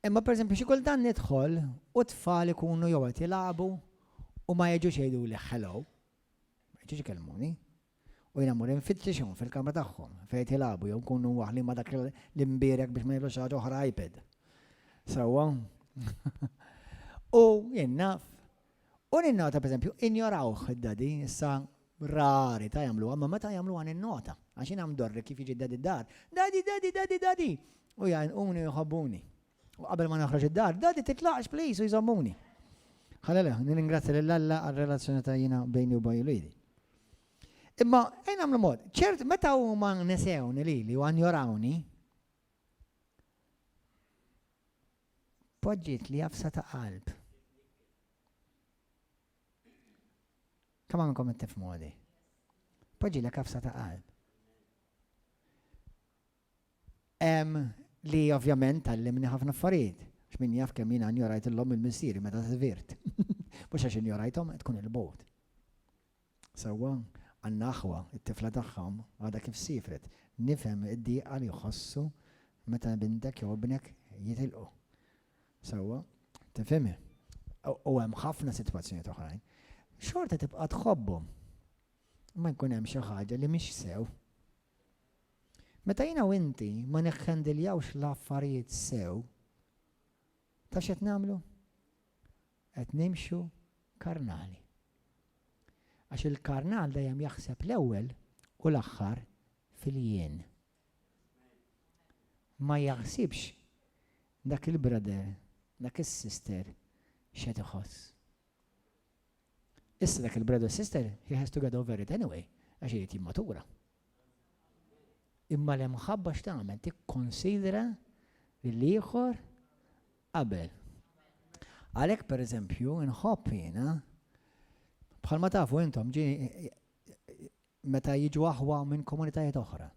Imma pereżempju xi kultant nidħol u t-tfal ikunu jew qed jilagħbu u ma jiġux jgħiduli hello, ma jiġux ikellmuni. U jiena mmur infittixhom fil-kamra tagħhom fejn qed jilagħbu jew nkunu waħli ma' dak l-imbierek biex ma jagħmlux ħaġa oħra iPad. Sewwa? U jien naf U ninnota, pereżempju, injorawh id-daddy, issa rari ta' jagħmluha, imma meta jagħmluha ninnota, għax jiena mdorri kif jiġi d-daddy d-dar, Daddy, daddy, daddy, daddy! U jgħannquni u jħobbuni. U qabel ma noħroġ id-dar, Daddy titlaqx please u jżommuni. Ħalelujah, nirringrazzja lil Alla għar-relazzjoni ta' jiena bejni u bejn uliedi. Imma ejn nagħmlu mod, ċert meta huma nesewni lili u anjorawni, Poġġietli għafsa ta' qalb. Kemm hawn minnkom qed tifhmuha di? Poġġilek għafsa ta' qalb. Hemm li ovvjament tallimni ħafna affarijiet. X'min jaf kemm jiena injorajt illhom il-missieri meta żvirt. Mhux għax injorajthom tkun il-bogħod. Sewwa, għandna aħwa, it-tifla tagħhom għadha kif siefret. Nifhem id-diqa li jħossu meta bintek jew ibnek jitilqu. Sewwa, tifhimhi. U hemm ħafna sitwazzjonijiet oħrajn. Xorta tibqa' tħobbhom. Imma jkun hemm xi ħaġa li mhix sew. Meta jiena u inti ma nikkendiljawx l-affarijiet sew, taf x'qed nagħmlu? qed nimxu karnali. Għax il-karnal dejjem jaħseb l-ewwel u l-aħħar fil-jien. Ma jaħsibx dak il-brother, dak is-sister x'qed iħoss. Issa dak il-brother sister he has to get over it anyway għax irid jimmatura. Imma l-imħabba x'tagħmel tikkonsidra lill-ieħor qabel. Għalhekk pereżempju nħobb jiena, bħalma tafu intom, meta jiġu aħwa minn komunitajiet oħra.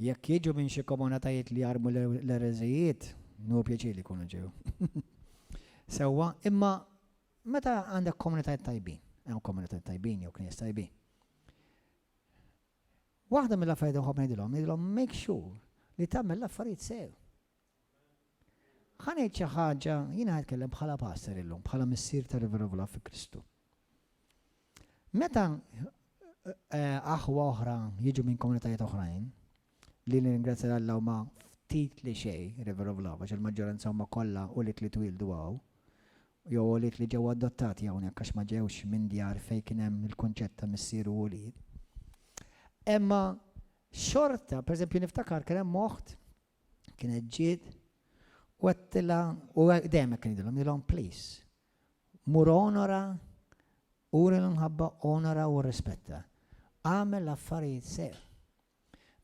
Jekk jiġu minn xi komunitajiet li jarmu l-ereżijiet, nu pjaċir li jkunu ġew. Sewwa, imma meta għandek komunitajiet tajbin, hemm komunitajiet tajbin jew knies tajbin. Waħda mill-affarijiet li nħobb ngħidilhom, ngħidilhom make sure li tagħmel l-affarijiet sew. Ħa ngħid xi ħaġa, jien qed nitkellem bħala pastor illum, bħala missier ta' rivervula fi Kristu. Meta eh, aħwa oħra jiġu minn komunitajiet oħrajn, li l-ingrazzja l-Alla huma ftit li xej rivervula, għax il-maġġoranza huma kollha u li li twildu għaw, jew għoliet li ġew adottati hawnhekk għax ma ġewx minn djar fejn kien hemm il-kunċett ta' missier u ulied. Imma xorta, pereżempju niftakar kien hemm oħt kienet ġiet u għattila u dejjem kien jidilhom jilhom please. Mur onora, uri l-mħabba, onora u rispetta. Għamel affarijiet sew.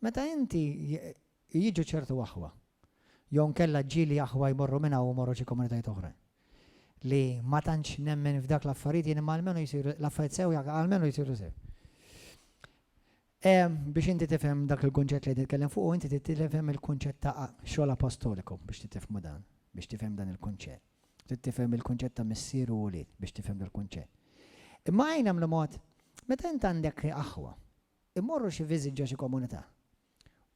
Meta inti jiġu ċertu aħwa, jew inkella ġieli aħwa jmorru minn hawn u jmorru xi komunitajiet oħrajn, li ma tantx nemmen f'dak l-affarijiet jien imma almenu jsiru l-affarijiet sew jaqgħu almenu jsiru sew. Biex inti tifhem dak il-kunċett li qed nitkellem fuqu, inti trid tifhem il-kunċett ta' xogħol apostoliku biex titifhmu dan, biex tifhem dan il-kunċett. Trid tifhem il-kunċett ta' missier u wlied biex tifhem dal-kunċett. Imma għajn nagħmlu mod, meta int għandek aħwa, imorru xi visit ġo xi komunità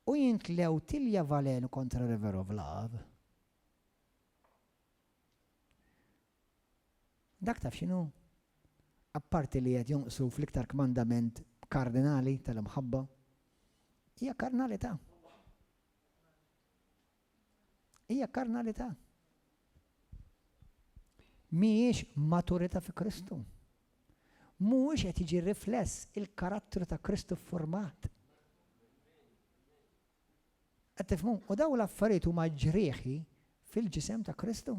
u jintlew tilja valenu kontra River of Love. Dak taf x'inhu? Apparti li qed jonqsu fl-iktar kmandament kardinali tal-imħabba, hija karnalità. Hija karnalità. Mhijiex maturità fi Kristu. Mhuwiex qed jiġi rifless il-karattru ta' Kristu ffurmat. Qed tifhmu? U dawn l-affarijiet huma ġrieħi fil-ġisem ta' Kristu.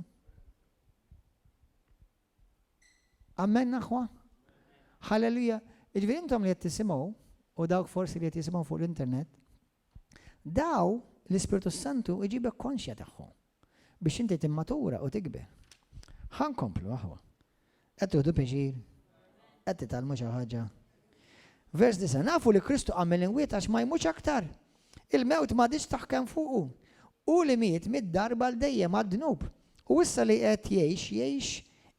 Amen aħwa? Halleluja. Iġviri intom li qed tisimgħu u dawk forsi li qed jisimgħu fuq l-internet, Daw l-Ispirtu s-Santu iġibek konxja tagħhom biex inti timmatura u tikber. Ħa nkomplu aħwa. Qed tuħdu pjaċir? Qed titgħallmu xi ħaġa? Vers disa' nafu li Kristu għamel inwiet għax ma jmutx aktar. Il-mewt ma diċ taħkem fuqu. U li miet mid-darba l dejjem għad-dnub. U issa li qed jgħix jgħix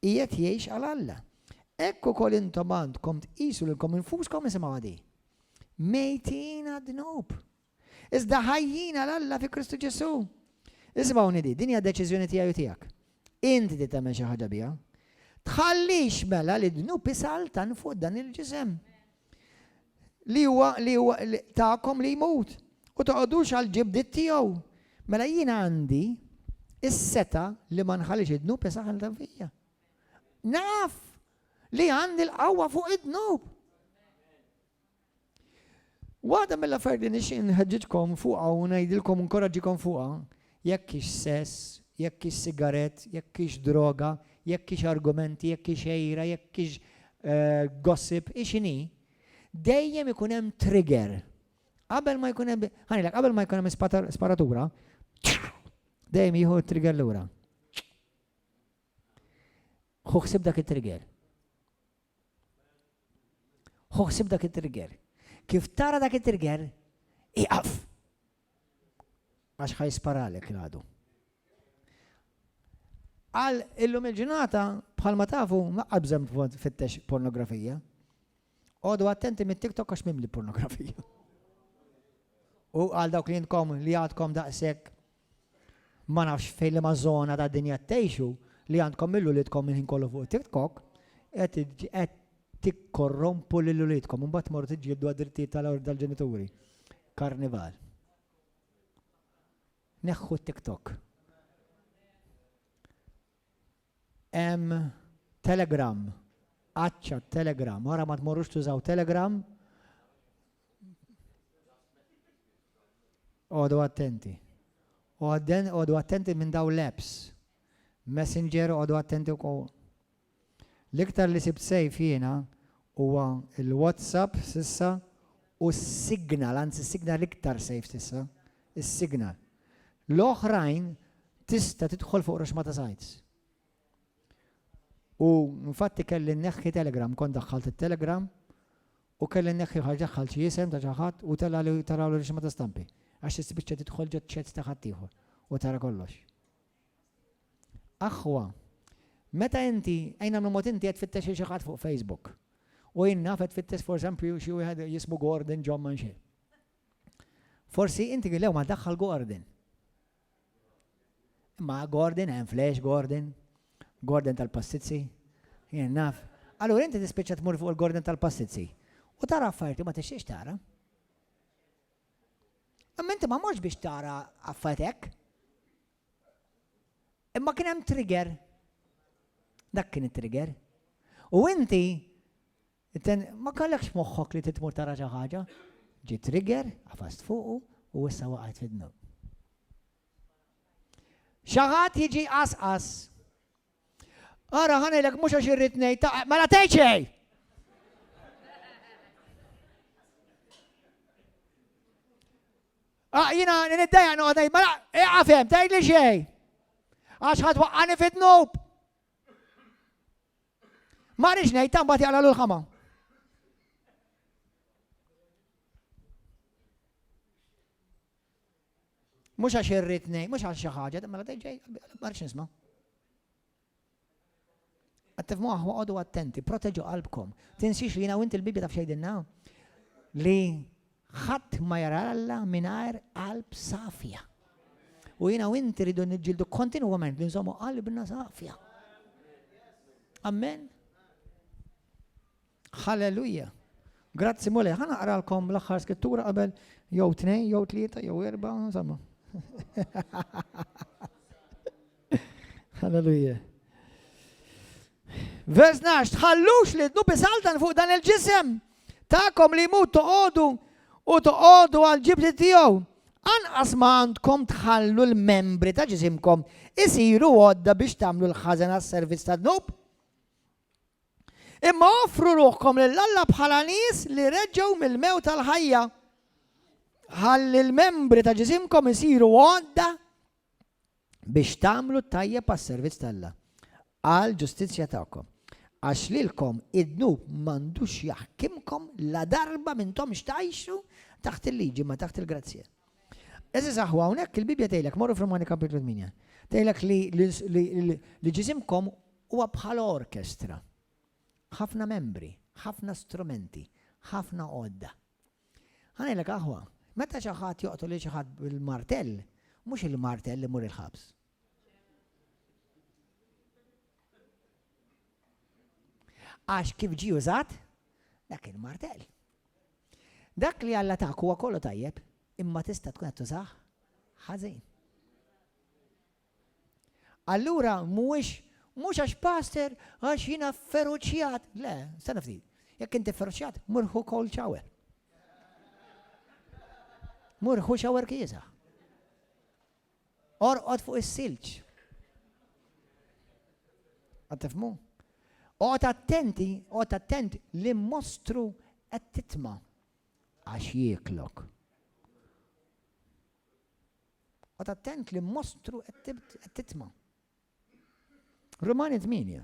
qiegħed jgħix għal Alla. Ekk ukoll intom għandkom tqisu lilkom infuskom isimgħu għadi. Mejtin għad-dnub. Iżda ħajjin għal Alla fi Kristu Ġesu. Ismawni di, din hija deċiżjoni tiegħi u tiegħek. Inti di tagħmel xi ħaġa biha. Tħallix mela li dnub isaltan fuq dan il-ġisem. Li huwa li huwa tagħkom li jmut u toqgħodux għal ġibdiet tiegħu. Mela jien għandi is-seta li ma nħallix id-dnub isaltan fija. Naf li għandi l-qawwa fuq id-dnub. Waħda mill-affarijiet li nixtieq inħeġġiġkom fuqha u ngħidilkom inkoraġġikom fuqha, jekk hix sess, jekk hix sigarett, jekk hix droga, jekk hix argumenti, jekk hix għira, jekk hix gossip, hi x'inhi, dejjem ikun hemm trigger. Qabel ma jkun hemm, ħanilek, qabel ma jkun hemm sparatura, dejjem jieħu t-trigger lura. Hu ħsib dak it-trigger. Hu ħsib dak it-trigger. Kif tara dak it-trigger, iqaf. Għax ħaj sparalek l-għadu. Għal illum il-ġurnata, bħal ma tafu, ma qabżem fittex pornografija. Għodu attenti mit TikTok għax mimli pornografija. U għal dawk li jintkom li għadkom daqsek Ma nafx fejn liema żona tad-dinja qed tgħixu li għandkom lil uliedkom il-ħin kollu fuq it-TikTok, qed qed tikkorrompu lil uliedkom u mbagħad tmorru tiġġieldu għad-drittijiet tal-ġenituri. Karnival. Neħħu t-TikTok. Hemm Telegram, għaċċa Telegram, ara ma tmorrux tużaw Telegram. Għodu attenti. Għodu attenti minn daw l-apps. Messenger għodu attenti wkoll. L-iktar li sibt sejf jiena huwa l-WhatsApp sissa u s-signal, anzi s-signal l-iktar safe s'issa, is-signal. L-oħrajn tista' tidħol fuq Roxmata Sites. U infatti kelli nneħħi Telegram, kont daħħalt it-Telegram u kelli nneħħi ħaġa daħħalt xi isem ta' xi ħadd u tela' li taraw Roxmata Stampi. Għax tispiċċa tidħol ġo ċets ta' ħaddieħor u tara kollox. Aħwa, meta inti, ejn nagħmlu mod inti qed tfittex lil xi ħadd fuq Facebook. U jien naf qed tfittex for esempio xi wieħed jismu Gordon John ma nxi. Forsi inti gillew ma daħħal Gordon. Imma Gordon hemm flash Gordon, Gordon tal-passizzi, jien naf. Allura inti tispiċċa tmur fuq il-Gordon tal-passizzi. U tara affarijiet ma tixtiex tara. Imma inti ma mortx biex tara affarijiet hekk. Imma kien hemm trigger. Dak kien it-trigger. U inti ma kellekx moħħok li titmur tara xi ħaġa. Ġi trigger, għafast fuqu u issa waqgħet fid-dnub. Xi ħadd jiġi qasqas. Ara, ħanejlek mhux għax irrid ngħid ta' mela tgħid xejn! Ah, jina, niddaja noqgħod ngħid mela iqafhem tgħidli xejn. Għax ħadd waqqani fid-dnub. Ma rix ngħid ta' mbagħad jaqla l-ħama. Mhux għax irrid ngħid, mhux għal xi ħaġa, mela dejn ġej, ma rridx nisma'. Qed tifhmu aħwa qogħdu attenti, proteġu qalbkom. Tinsiex li jiena u inti l-Bibbja taf xejdilna li ħadd ma jara Alla mingħajr qalb safja. U jiena u inti rridu niġġieldu kontinwament li nżommu qalbna safja. Amen. Halleluja! Grazzi Mulej, ħa naqralkom l-aħħar skrittura qabel jew tnejn, jew tlieta, jew erba, insomma. Halleluja. Vers nax, tħallux li dnu bisaltan fuq dan il-ġisem ta'kom li mu toqodu u toqodu għal-ġibti tiegħu. Anqas ma għandkom tħallu l-membri ta' ġisimkom isiru għodda biex tagħmlu l-ħażen għas-servizz ta' dnub. Imma offru ruħkom lil Alla bħala nies li reġgħu mill-mewt għall-ħajja, ħalli l-membri ta' ġisimkom isiru għodda biex tagħmlu t-tajjeb għas-servizz ta' Alla, għall-ġustizzja tagħkom. Għax lilkom id-dnub m'għandux jaħkimkom ladarba m'intomx tgħixu taħt il-liġi imma taħt il-grazzja. Eżiż aħwa hawnhekk il-Bibbja tgħidlek morru f'Romani Kapitlu 8. Tgħidlek li ġisimkom Huwa bħal orkestra. Ħafna membri, ħafna strumenti, ħafna għodda. Ħa ngħidlek aħwa, meta xi ħadd joqtol lil xi ħadd bil-martell, mhux il-martell imur il-ħabs. Għax kif ġie użat, dak il-martell. Dak li Alla tak huwa kollu tajjeb, imma tista' tkun qed tużah ħażin. Allura mhuwiex, mhux għax Pastor, għax jiena fferuċjat. Le, stenna ftit. Jekk inti fferuċjat, mur ħu cold shower. Mur ħu shower kieża. Orqod fuq is-silġ. Għad tifmu? Oqgħod attenti, oqgħod attent li mostru qed titma' għax jieklok. Qgħod attent li mostru qed titma'. Rumani tmienja.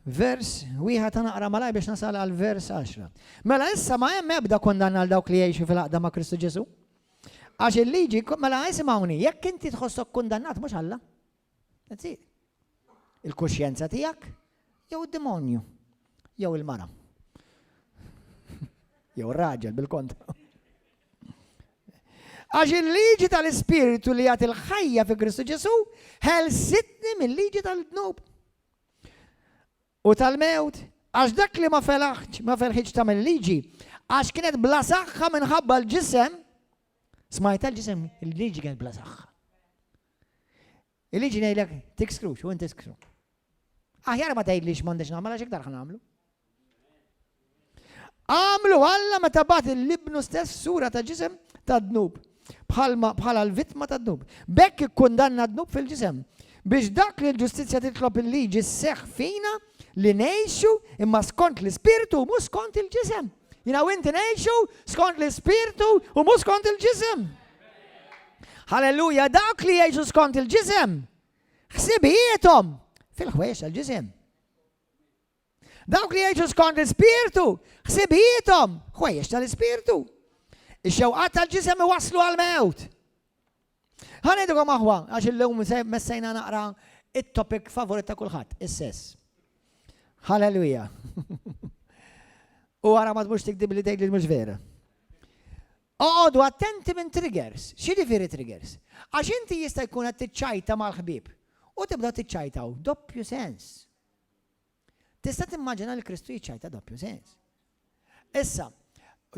Vers wieħed ta' naqra malaj biex nasal għal vers 10. Mela issa ma hemm ebda kondanna għal dawk li jgħixu fil-aqda ma' Kristu Ġesu. Għax il-liġi, mela isimgħuni, jekk inti tħossok kundannat mhux Alla, That's it. Il-kuxjenza tiegħek jew id-demonju jew il-mara. Jew ir-raġel bil-kontra. Għax il-liġi tal-Ispirtu li għat il-ħajja fi Kristu Ġesu ħelsitni mill-liġi tal-dnub. u tal-mewt, għax dak li ma felaħx, ma ferħitx tagħmel il-liġi, għax kienet bla saħħa minħabba l-ġisem, smajtha l-ġisem, il-liġi kienet bla saħħa. Il-liġi ngħidlek tikskrux u inti skru. Aħjar ma tgħidlix m'għandix nagħmel għax iktar ħan nagħmlu. Għamlu Alla meta bagħat lil Ibnu stess f'sura ta' ġisem tad-dnub, bħalma bħala l-vittma tad-dnub. B'hekk ikkundanna d-dnub fil-ġisem, biex dak li l-ġustizzja titlob il-liġi sseħħ fina, li ngħixu imma skont l-ispirtu u mhux skont il-ġisem. Jiena u inti ngħixu skont l-ispirtu u mhux skont il-ġisem. Halleluja, dawk li jgħixu skont il-ġisem, ħsibijiethom fil-ħwejjex tal-ġisem. Dawk li jgħixu skont l-ispirtu, ħsibijiethom, ħwejjeġ tal-ispirtu. Ix-xewqat tal-ġisem iwasslu għal mewt. Ħanejdukom aħwa, għax illum messejna naqra it-topic favorit ta' kulħadd, is-sess. Halleluja. U għara ma tmux tikdib li tgħid li mhux vera. Oqodu attenti minn triggers. Xi ġifieri triggers? Għax inti jista' jkun qed tiċċajta mal-ħbieb u tibda tiċċajtaw doppju sens. Tista' timmaġina lil Kristu jiċċajta doppju sens. Issa,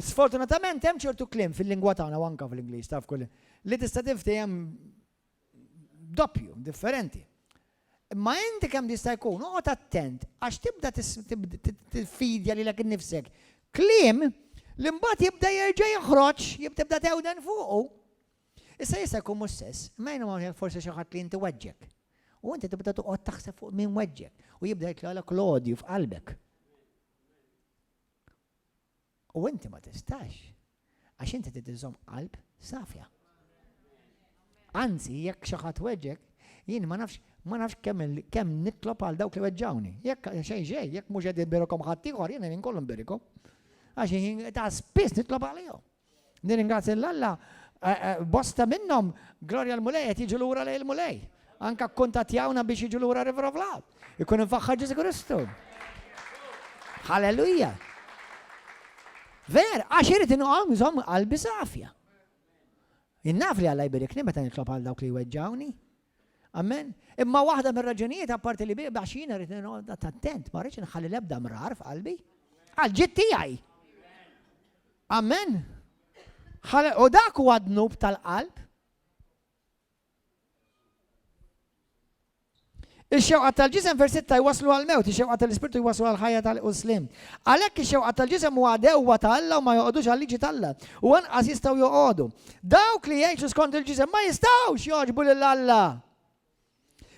sfortunatament hemm ċertu kliem fil-lingwa tagħna u anke fl-Ingliż taf kull li tista' tinftiehem doppju, differenti. Imma inti kemm jista' jkun oqgħod attent għax tibda tiffidja lilek innifsek kliem li mbagħad jibda jerġa' joħroġ, jibda tewden fuqu. Issa jista' jkun mhux sess, imma jien imma jekk forsi xi ħadd li inti weġġgħek. U inti tibda toqgħod taħseb fuq min weġġgħek, u jibda jitlgħalek l-odju f'qalbek. U inti ma tistax, għax inti trid iżżomm qalb safja. Anzi, jekk xi ħadd weġġgħek, jien ma nafx ma nafx kemm kemm nitlob għal dawk li weġġawni. Jekk xejn xejn, jekk mhux qed imbirikom ħadd ieħor, jiena jien kollu mbirikom. Għax jien ta' spiss nitlob għalihom. Nirringrazzja lil Alla, bosta minnhom, glorja l-Mulej, qed jiġu lura lejn il-Mulej. Anka kkuntattjawna biex jiġu lura River of Love. Ikun infaħħar Ġesu Kristu. Halleluja! Ver, għax irid inqom nżomm qalbi safja. Innaf li Alla jbirikni meta nitlob għal dawk li jweġġawni. Amen? Imma waħda mir-raġunijiet apparti li bih għax jiena rrid noqgħod attent, ma rridx nħalli l-ebda mrar f'qalbi. Għal ġid tiegħi. Amen? U dak huwa dnub tal-qalb. Ix-xewqa tal-ġisem versitta jwaslu għal-mewt, ix-xewqa tal-ispirtu jwaslu għal-ħajja tal-uslim. Għalhekk ix-xewqa tal-ġisem huwa dewwa ta' Alla u ma joqogħdux għal-liġi ta' Alla. U anqas jistgħu joqogħdu. Dawk li jgħixu skont il-ġisem ma jistgħux jogħġbu lil Alla.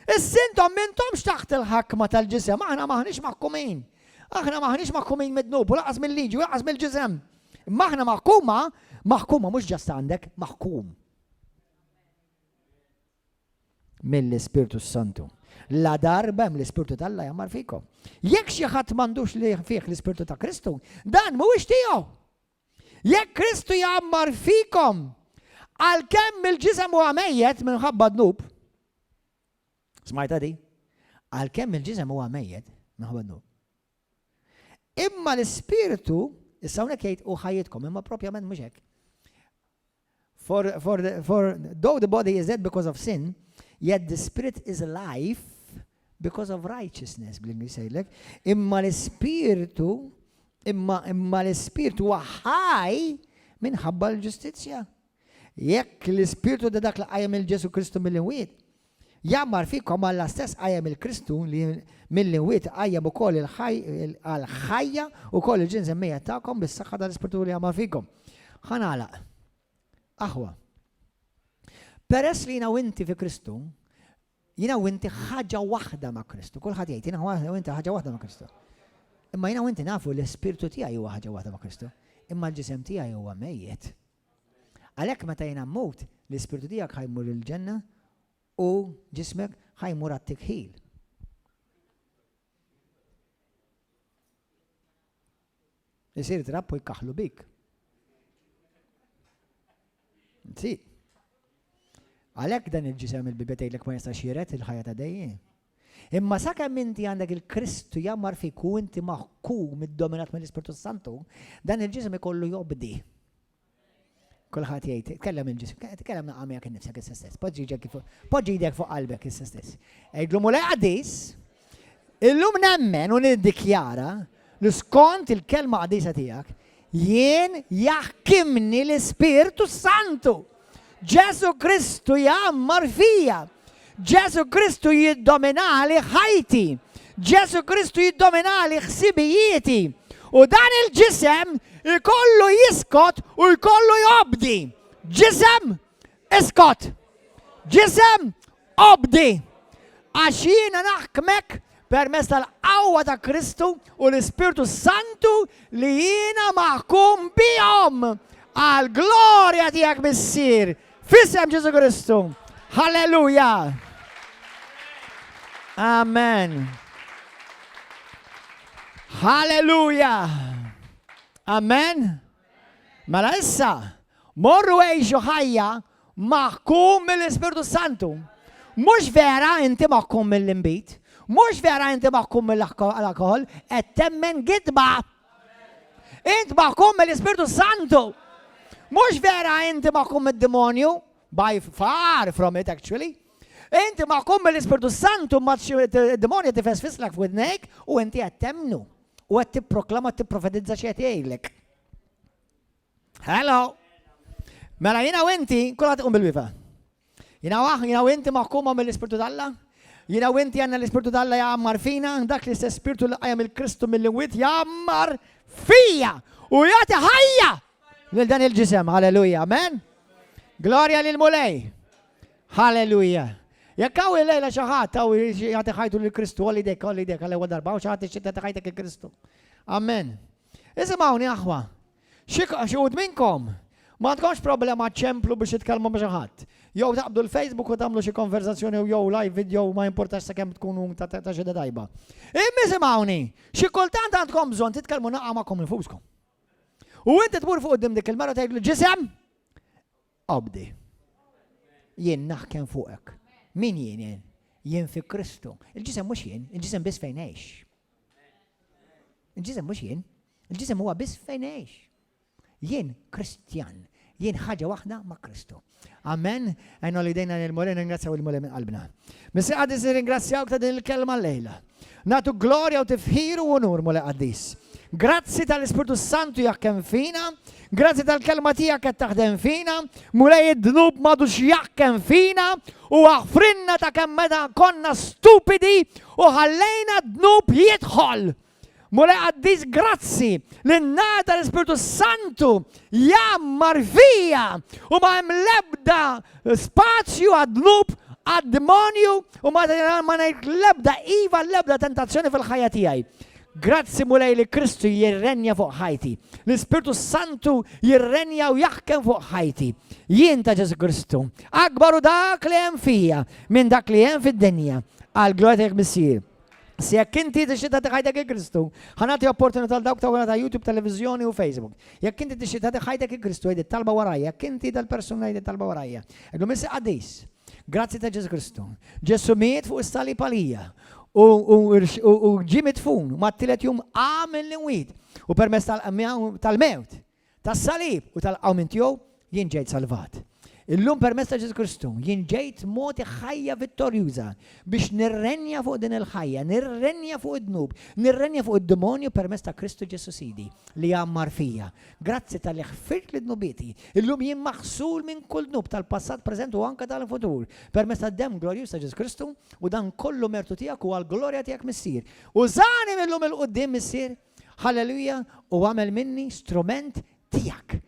Issa intom m'intomx taħt il-ħakma tal-ġisem, aħna m'aħniex maħkumin. Aħna m'aħniex maħkumin mid-dnub u laqas mill-liġi u laqas mill-ġisem. Imma aħna maħkuma, maħkuma mhux ġast għandek, maħkum. Mill-Ispirtu Santu. La darba hemm l-Ispirtu tal-Alla jammar fikom. Jekk xi ħadd m'għandux li fih l-Ispirtu ta' Kristu, dan mhuwiex tiegħu. Jekk Kristu jgħammar fikom, għalkemm il-ġisem huwa mejjet minħabba d-dnub, smajta di? Għalkemm il-ġisem huwa mejjet minħabba d-dnub. Imma l-ispirtu, issa hawnhekk jgħid u ħajjitkom, imma propjament mhux hekk. For, for, for though the body is dead because of sin, yet the spirit is life because of righteousness, bl-Ingliż jgħidlek, imma l-ispirtu imma imma l-ispirtu huwa ħaj minħabba l-ġustizzja. Jekk l-ispirtu da dak li qajjem il-Ġesu Kristu mill-imwiet, Jgħammar fikom Alla stess qajjem il-Kristun li mill-imwiet iqajjem ukoll il-ħaj għal ħajja ukoll il-ġinż imejjet tagħkom bis-saħħa tal-Ispirtu li jgħammar fikom. Ħa nagħlaq. Aħwa. Peress li jiena u inti fi Kristu, jiena u inti ħaġa waħda ma' Kristu. Kulħadd jgħid jiena u inti ħaġa waħda ma' Kristu. Imma jiena u inti nafu li l-Ispirtu tiegħi huwa ħaġa waħda ma' Kristu. Imma l-ġisem tiegħi huwa mejjet. Għalhekk meta jiena mmut, l-ispirtu tiegħek ħa jmur il-ġenna u ġismek ħa jmur għat-tikħil. Isir trapp u jkaħlu bik. Nsi. Għalhekk dan il-ġisem il-bibetejlek ma jistax jiret il-ħajja ta' dejjem. Imma sakemm inti għandek il-Kristu jgħammar fik u inti maħkum iddominat mill-Ispirtu s-Santu, dan il-ġisem ikollu jobdi. Kulħadd jgħid, tkellem il-ġisem, tkellem naqa' miegħek innifsek issa stess, poġġi jdek fuq poġġi jdek fuq qalbek issa stess. Għidlu mulej qaddis, illum nemmen u niddikjara li skont il-Kelma Qaddisa Tiegħek, jien jaħkimni l-Ispirtu s-Santu! Ġesù Kristu jgħammar fija! Ġesù Kristu jiddominali ħajti! Ġesù Kristu jiddominali ħsibijieti! U dan il-ġisem ikollu jiskot u jkollu jobdi! Ġisem, iskot! Ġisem, Obdi, għax jiena naħkmek permezz tal-qawwa ta' Kristu u l-Ispirtu s-Santu li jiena maħkum bihom għall-glorja tiegħek, Missier, f'isem Ġesù Kristu. Halleluja! Amen. Halleluja! Amen. Mela issa, morru għixu ħajja maħkum mill-Ispirtu s-Santu. Mhux vera inti maħkum mill-inbid, mhux vera inti maħkum mill-alkoħol, qed temmen gidba. Int maħkum mill-Ispirtu s-Santu. Mhux vera inti maħkum mid-demonju, by far from it actually. Inti maħkum mill-Ispirtu s-Santu ma d-demonju tifes fislak f'widnejk u inti qed temnu. u qed tipproklama tipprofetizza xi qed jgħidlek. Hello! Mela jiena u inti, kulħadd iqum bil-wifa. Jiena waħ, jiena u inti maħkuma mill-Ispirtu d'Alla. Jiena u inti għandna l-Ispirtu d'Alla jgħammar fina, dak li se spirtu li qajjem il-Kristu mill-imwiet jgħammar fija u jagħti ħajja lil dan il-ġisem. Halleluja, amen. Glorja lil Mulej. Halleluja! Jekk hawn illejla xi ħadd hawn irid jagħti ħajtu lil Kristu, għolli jdejk, għolli jdejk għall-ewwel darba, hawn xi ħadd tixtieq tagħti ħajtek lil Kristu. Amen. Isimgħuni aħwa, xi wħud minnkom ma għandkomx problema ċemplu biex titkellmu ma' xi ħadd. Jew taqbdu l-Facebook u tagħmlu xi konversazzjoni jew jew live video ma jimpurtax sakemm tkunu ta' ta' xi tajba. Imma isimgħuni, xi kultant għandkom bżonn titkellmu naqgħa magħkom infuskom. U inti tmur fuq qudiem dik il-mara tgħidlu ġisem, Qabdi. Jien naħkem fuqek. Min jien jien? Jien fi Kristu. Il-ġisem mhux jien, il-ġisem biss fejn għex. Il-ġisem mhux jien, il-ġisem huwa biss fejn għex. Jien Kristjan, jien ħaġa waħda ma' Kristu. Amen, għajna li dejna l-Mulej, ringrazzaw il-Mulej minn qalbna. Missi għadis ringrazzjawk ta' din il-kelma l-lejla. Nagħtuk glorja u tifħir u unur, Mulej Qaddis. Grazzi tal-Ispirtu s-Santu jekk hemm fina, grazzi tal-kelma tiegħek qed taħdem fina, Mulej id-dnub m'għadux jekk hemm fina u aħfrinna ta' kemm meta konna stupidi u ħallejna d-dnub jidħol. Mulej Qaddis grazzi li n-nar tal-Ispirtu s-Santu jgħammar fija u ma hemm l-ebda spazju għad-dnub, għad-dmonju u ma ngħid l-ebda iva għall-ebda tentazzjoni fil-ħajja tiegħi. Grazzi Mulej li Kristu jirrenja fuq ħajti. L-Ispirtu s-Santu jirrenja u jaħkem fuq ħajti. Jien ta' Ġesu Kristu. Akbaru dak li hemm fija minn dak li hemm fid-dinja. Għal glorja tiegħek Missier. Se jekk inti tixtieq tagħti ħajtek il Kristu, ħa nagħti opportunità għal dawk ta' wara ta' YouTube, televiżjoni u Facebook. Jekk inti tixtieq tagħti ħajtek il Kristu, għid it-talba warajja, jekk inti dal-persuna għid it-talba warajja. Għidlu Missi Qaddis, grazzi ta' Ġesu Kristu. Ġesu miet fuq is-sali palija u ġi mitfun ma t-tielet jum għamil l-inwid u permess tal-mewt Tas-salib u tal-qawmien tiegħu jien ġejt salvat. Illum permezz ta' Ġesù Kristu jien ġejt mogħti ħajja vittorjuża biex nirrenja fuq din il-ħajja, nirrenja fuq id-dnub, nirrenja fuq id-demonju permezz ta' Kristu Ġesù Sidi li jgħammar fija. Grazzi tal-li ħfirt li dnubieti. Illum jien maħsul minn kull dnub tal-passat, preżent u anke tal-futur permezz tad-demm glorjuż ta' Ġesù Kristu u dan kollu mertu tiegħek u għall-glorja tiegħek Missier. Użani minn illum il-quddiem Missier Halleluja, u agħmel minni strument tiegħek.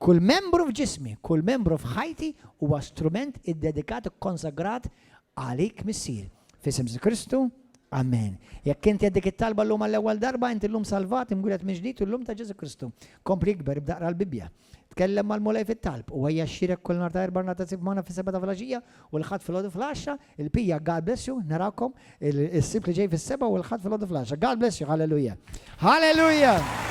Kull membru f'ġismi, kull membru f'ħajti huwa strument iddedikat, ikkonsagrat għalik, Missier. F'isem Ġesu Kristu, amen. Jekk inti qed dik it-talba llum għall-ewwel darba, inti llum salvat, imwieled mill-ġdid u llum ta' Ġesu Kristu. Kompli ikber, ibda aqra l-Bibbja. Tkellem mal-Mulej fit-talb u ejja xxierek kull nhar ta' Erbgħa nhar ta' Sibt magħna fis-sebgħa ta' filgħaxija u l-Ħadd filgħodu fil-għaxra. Il-pija God bless you, narakom is-Sibt li ġej fis-sebgħa u l-Ħadd filgħodu fil-għaxra. God bless you, hallelujah. Hallelujah!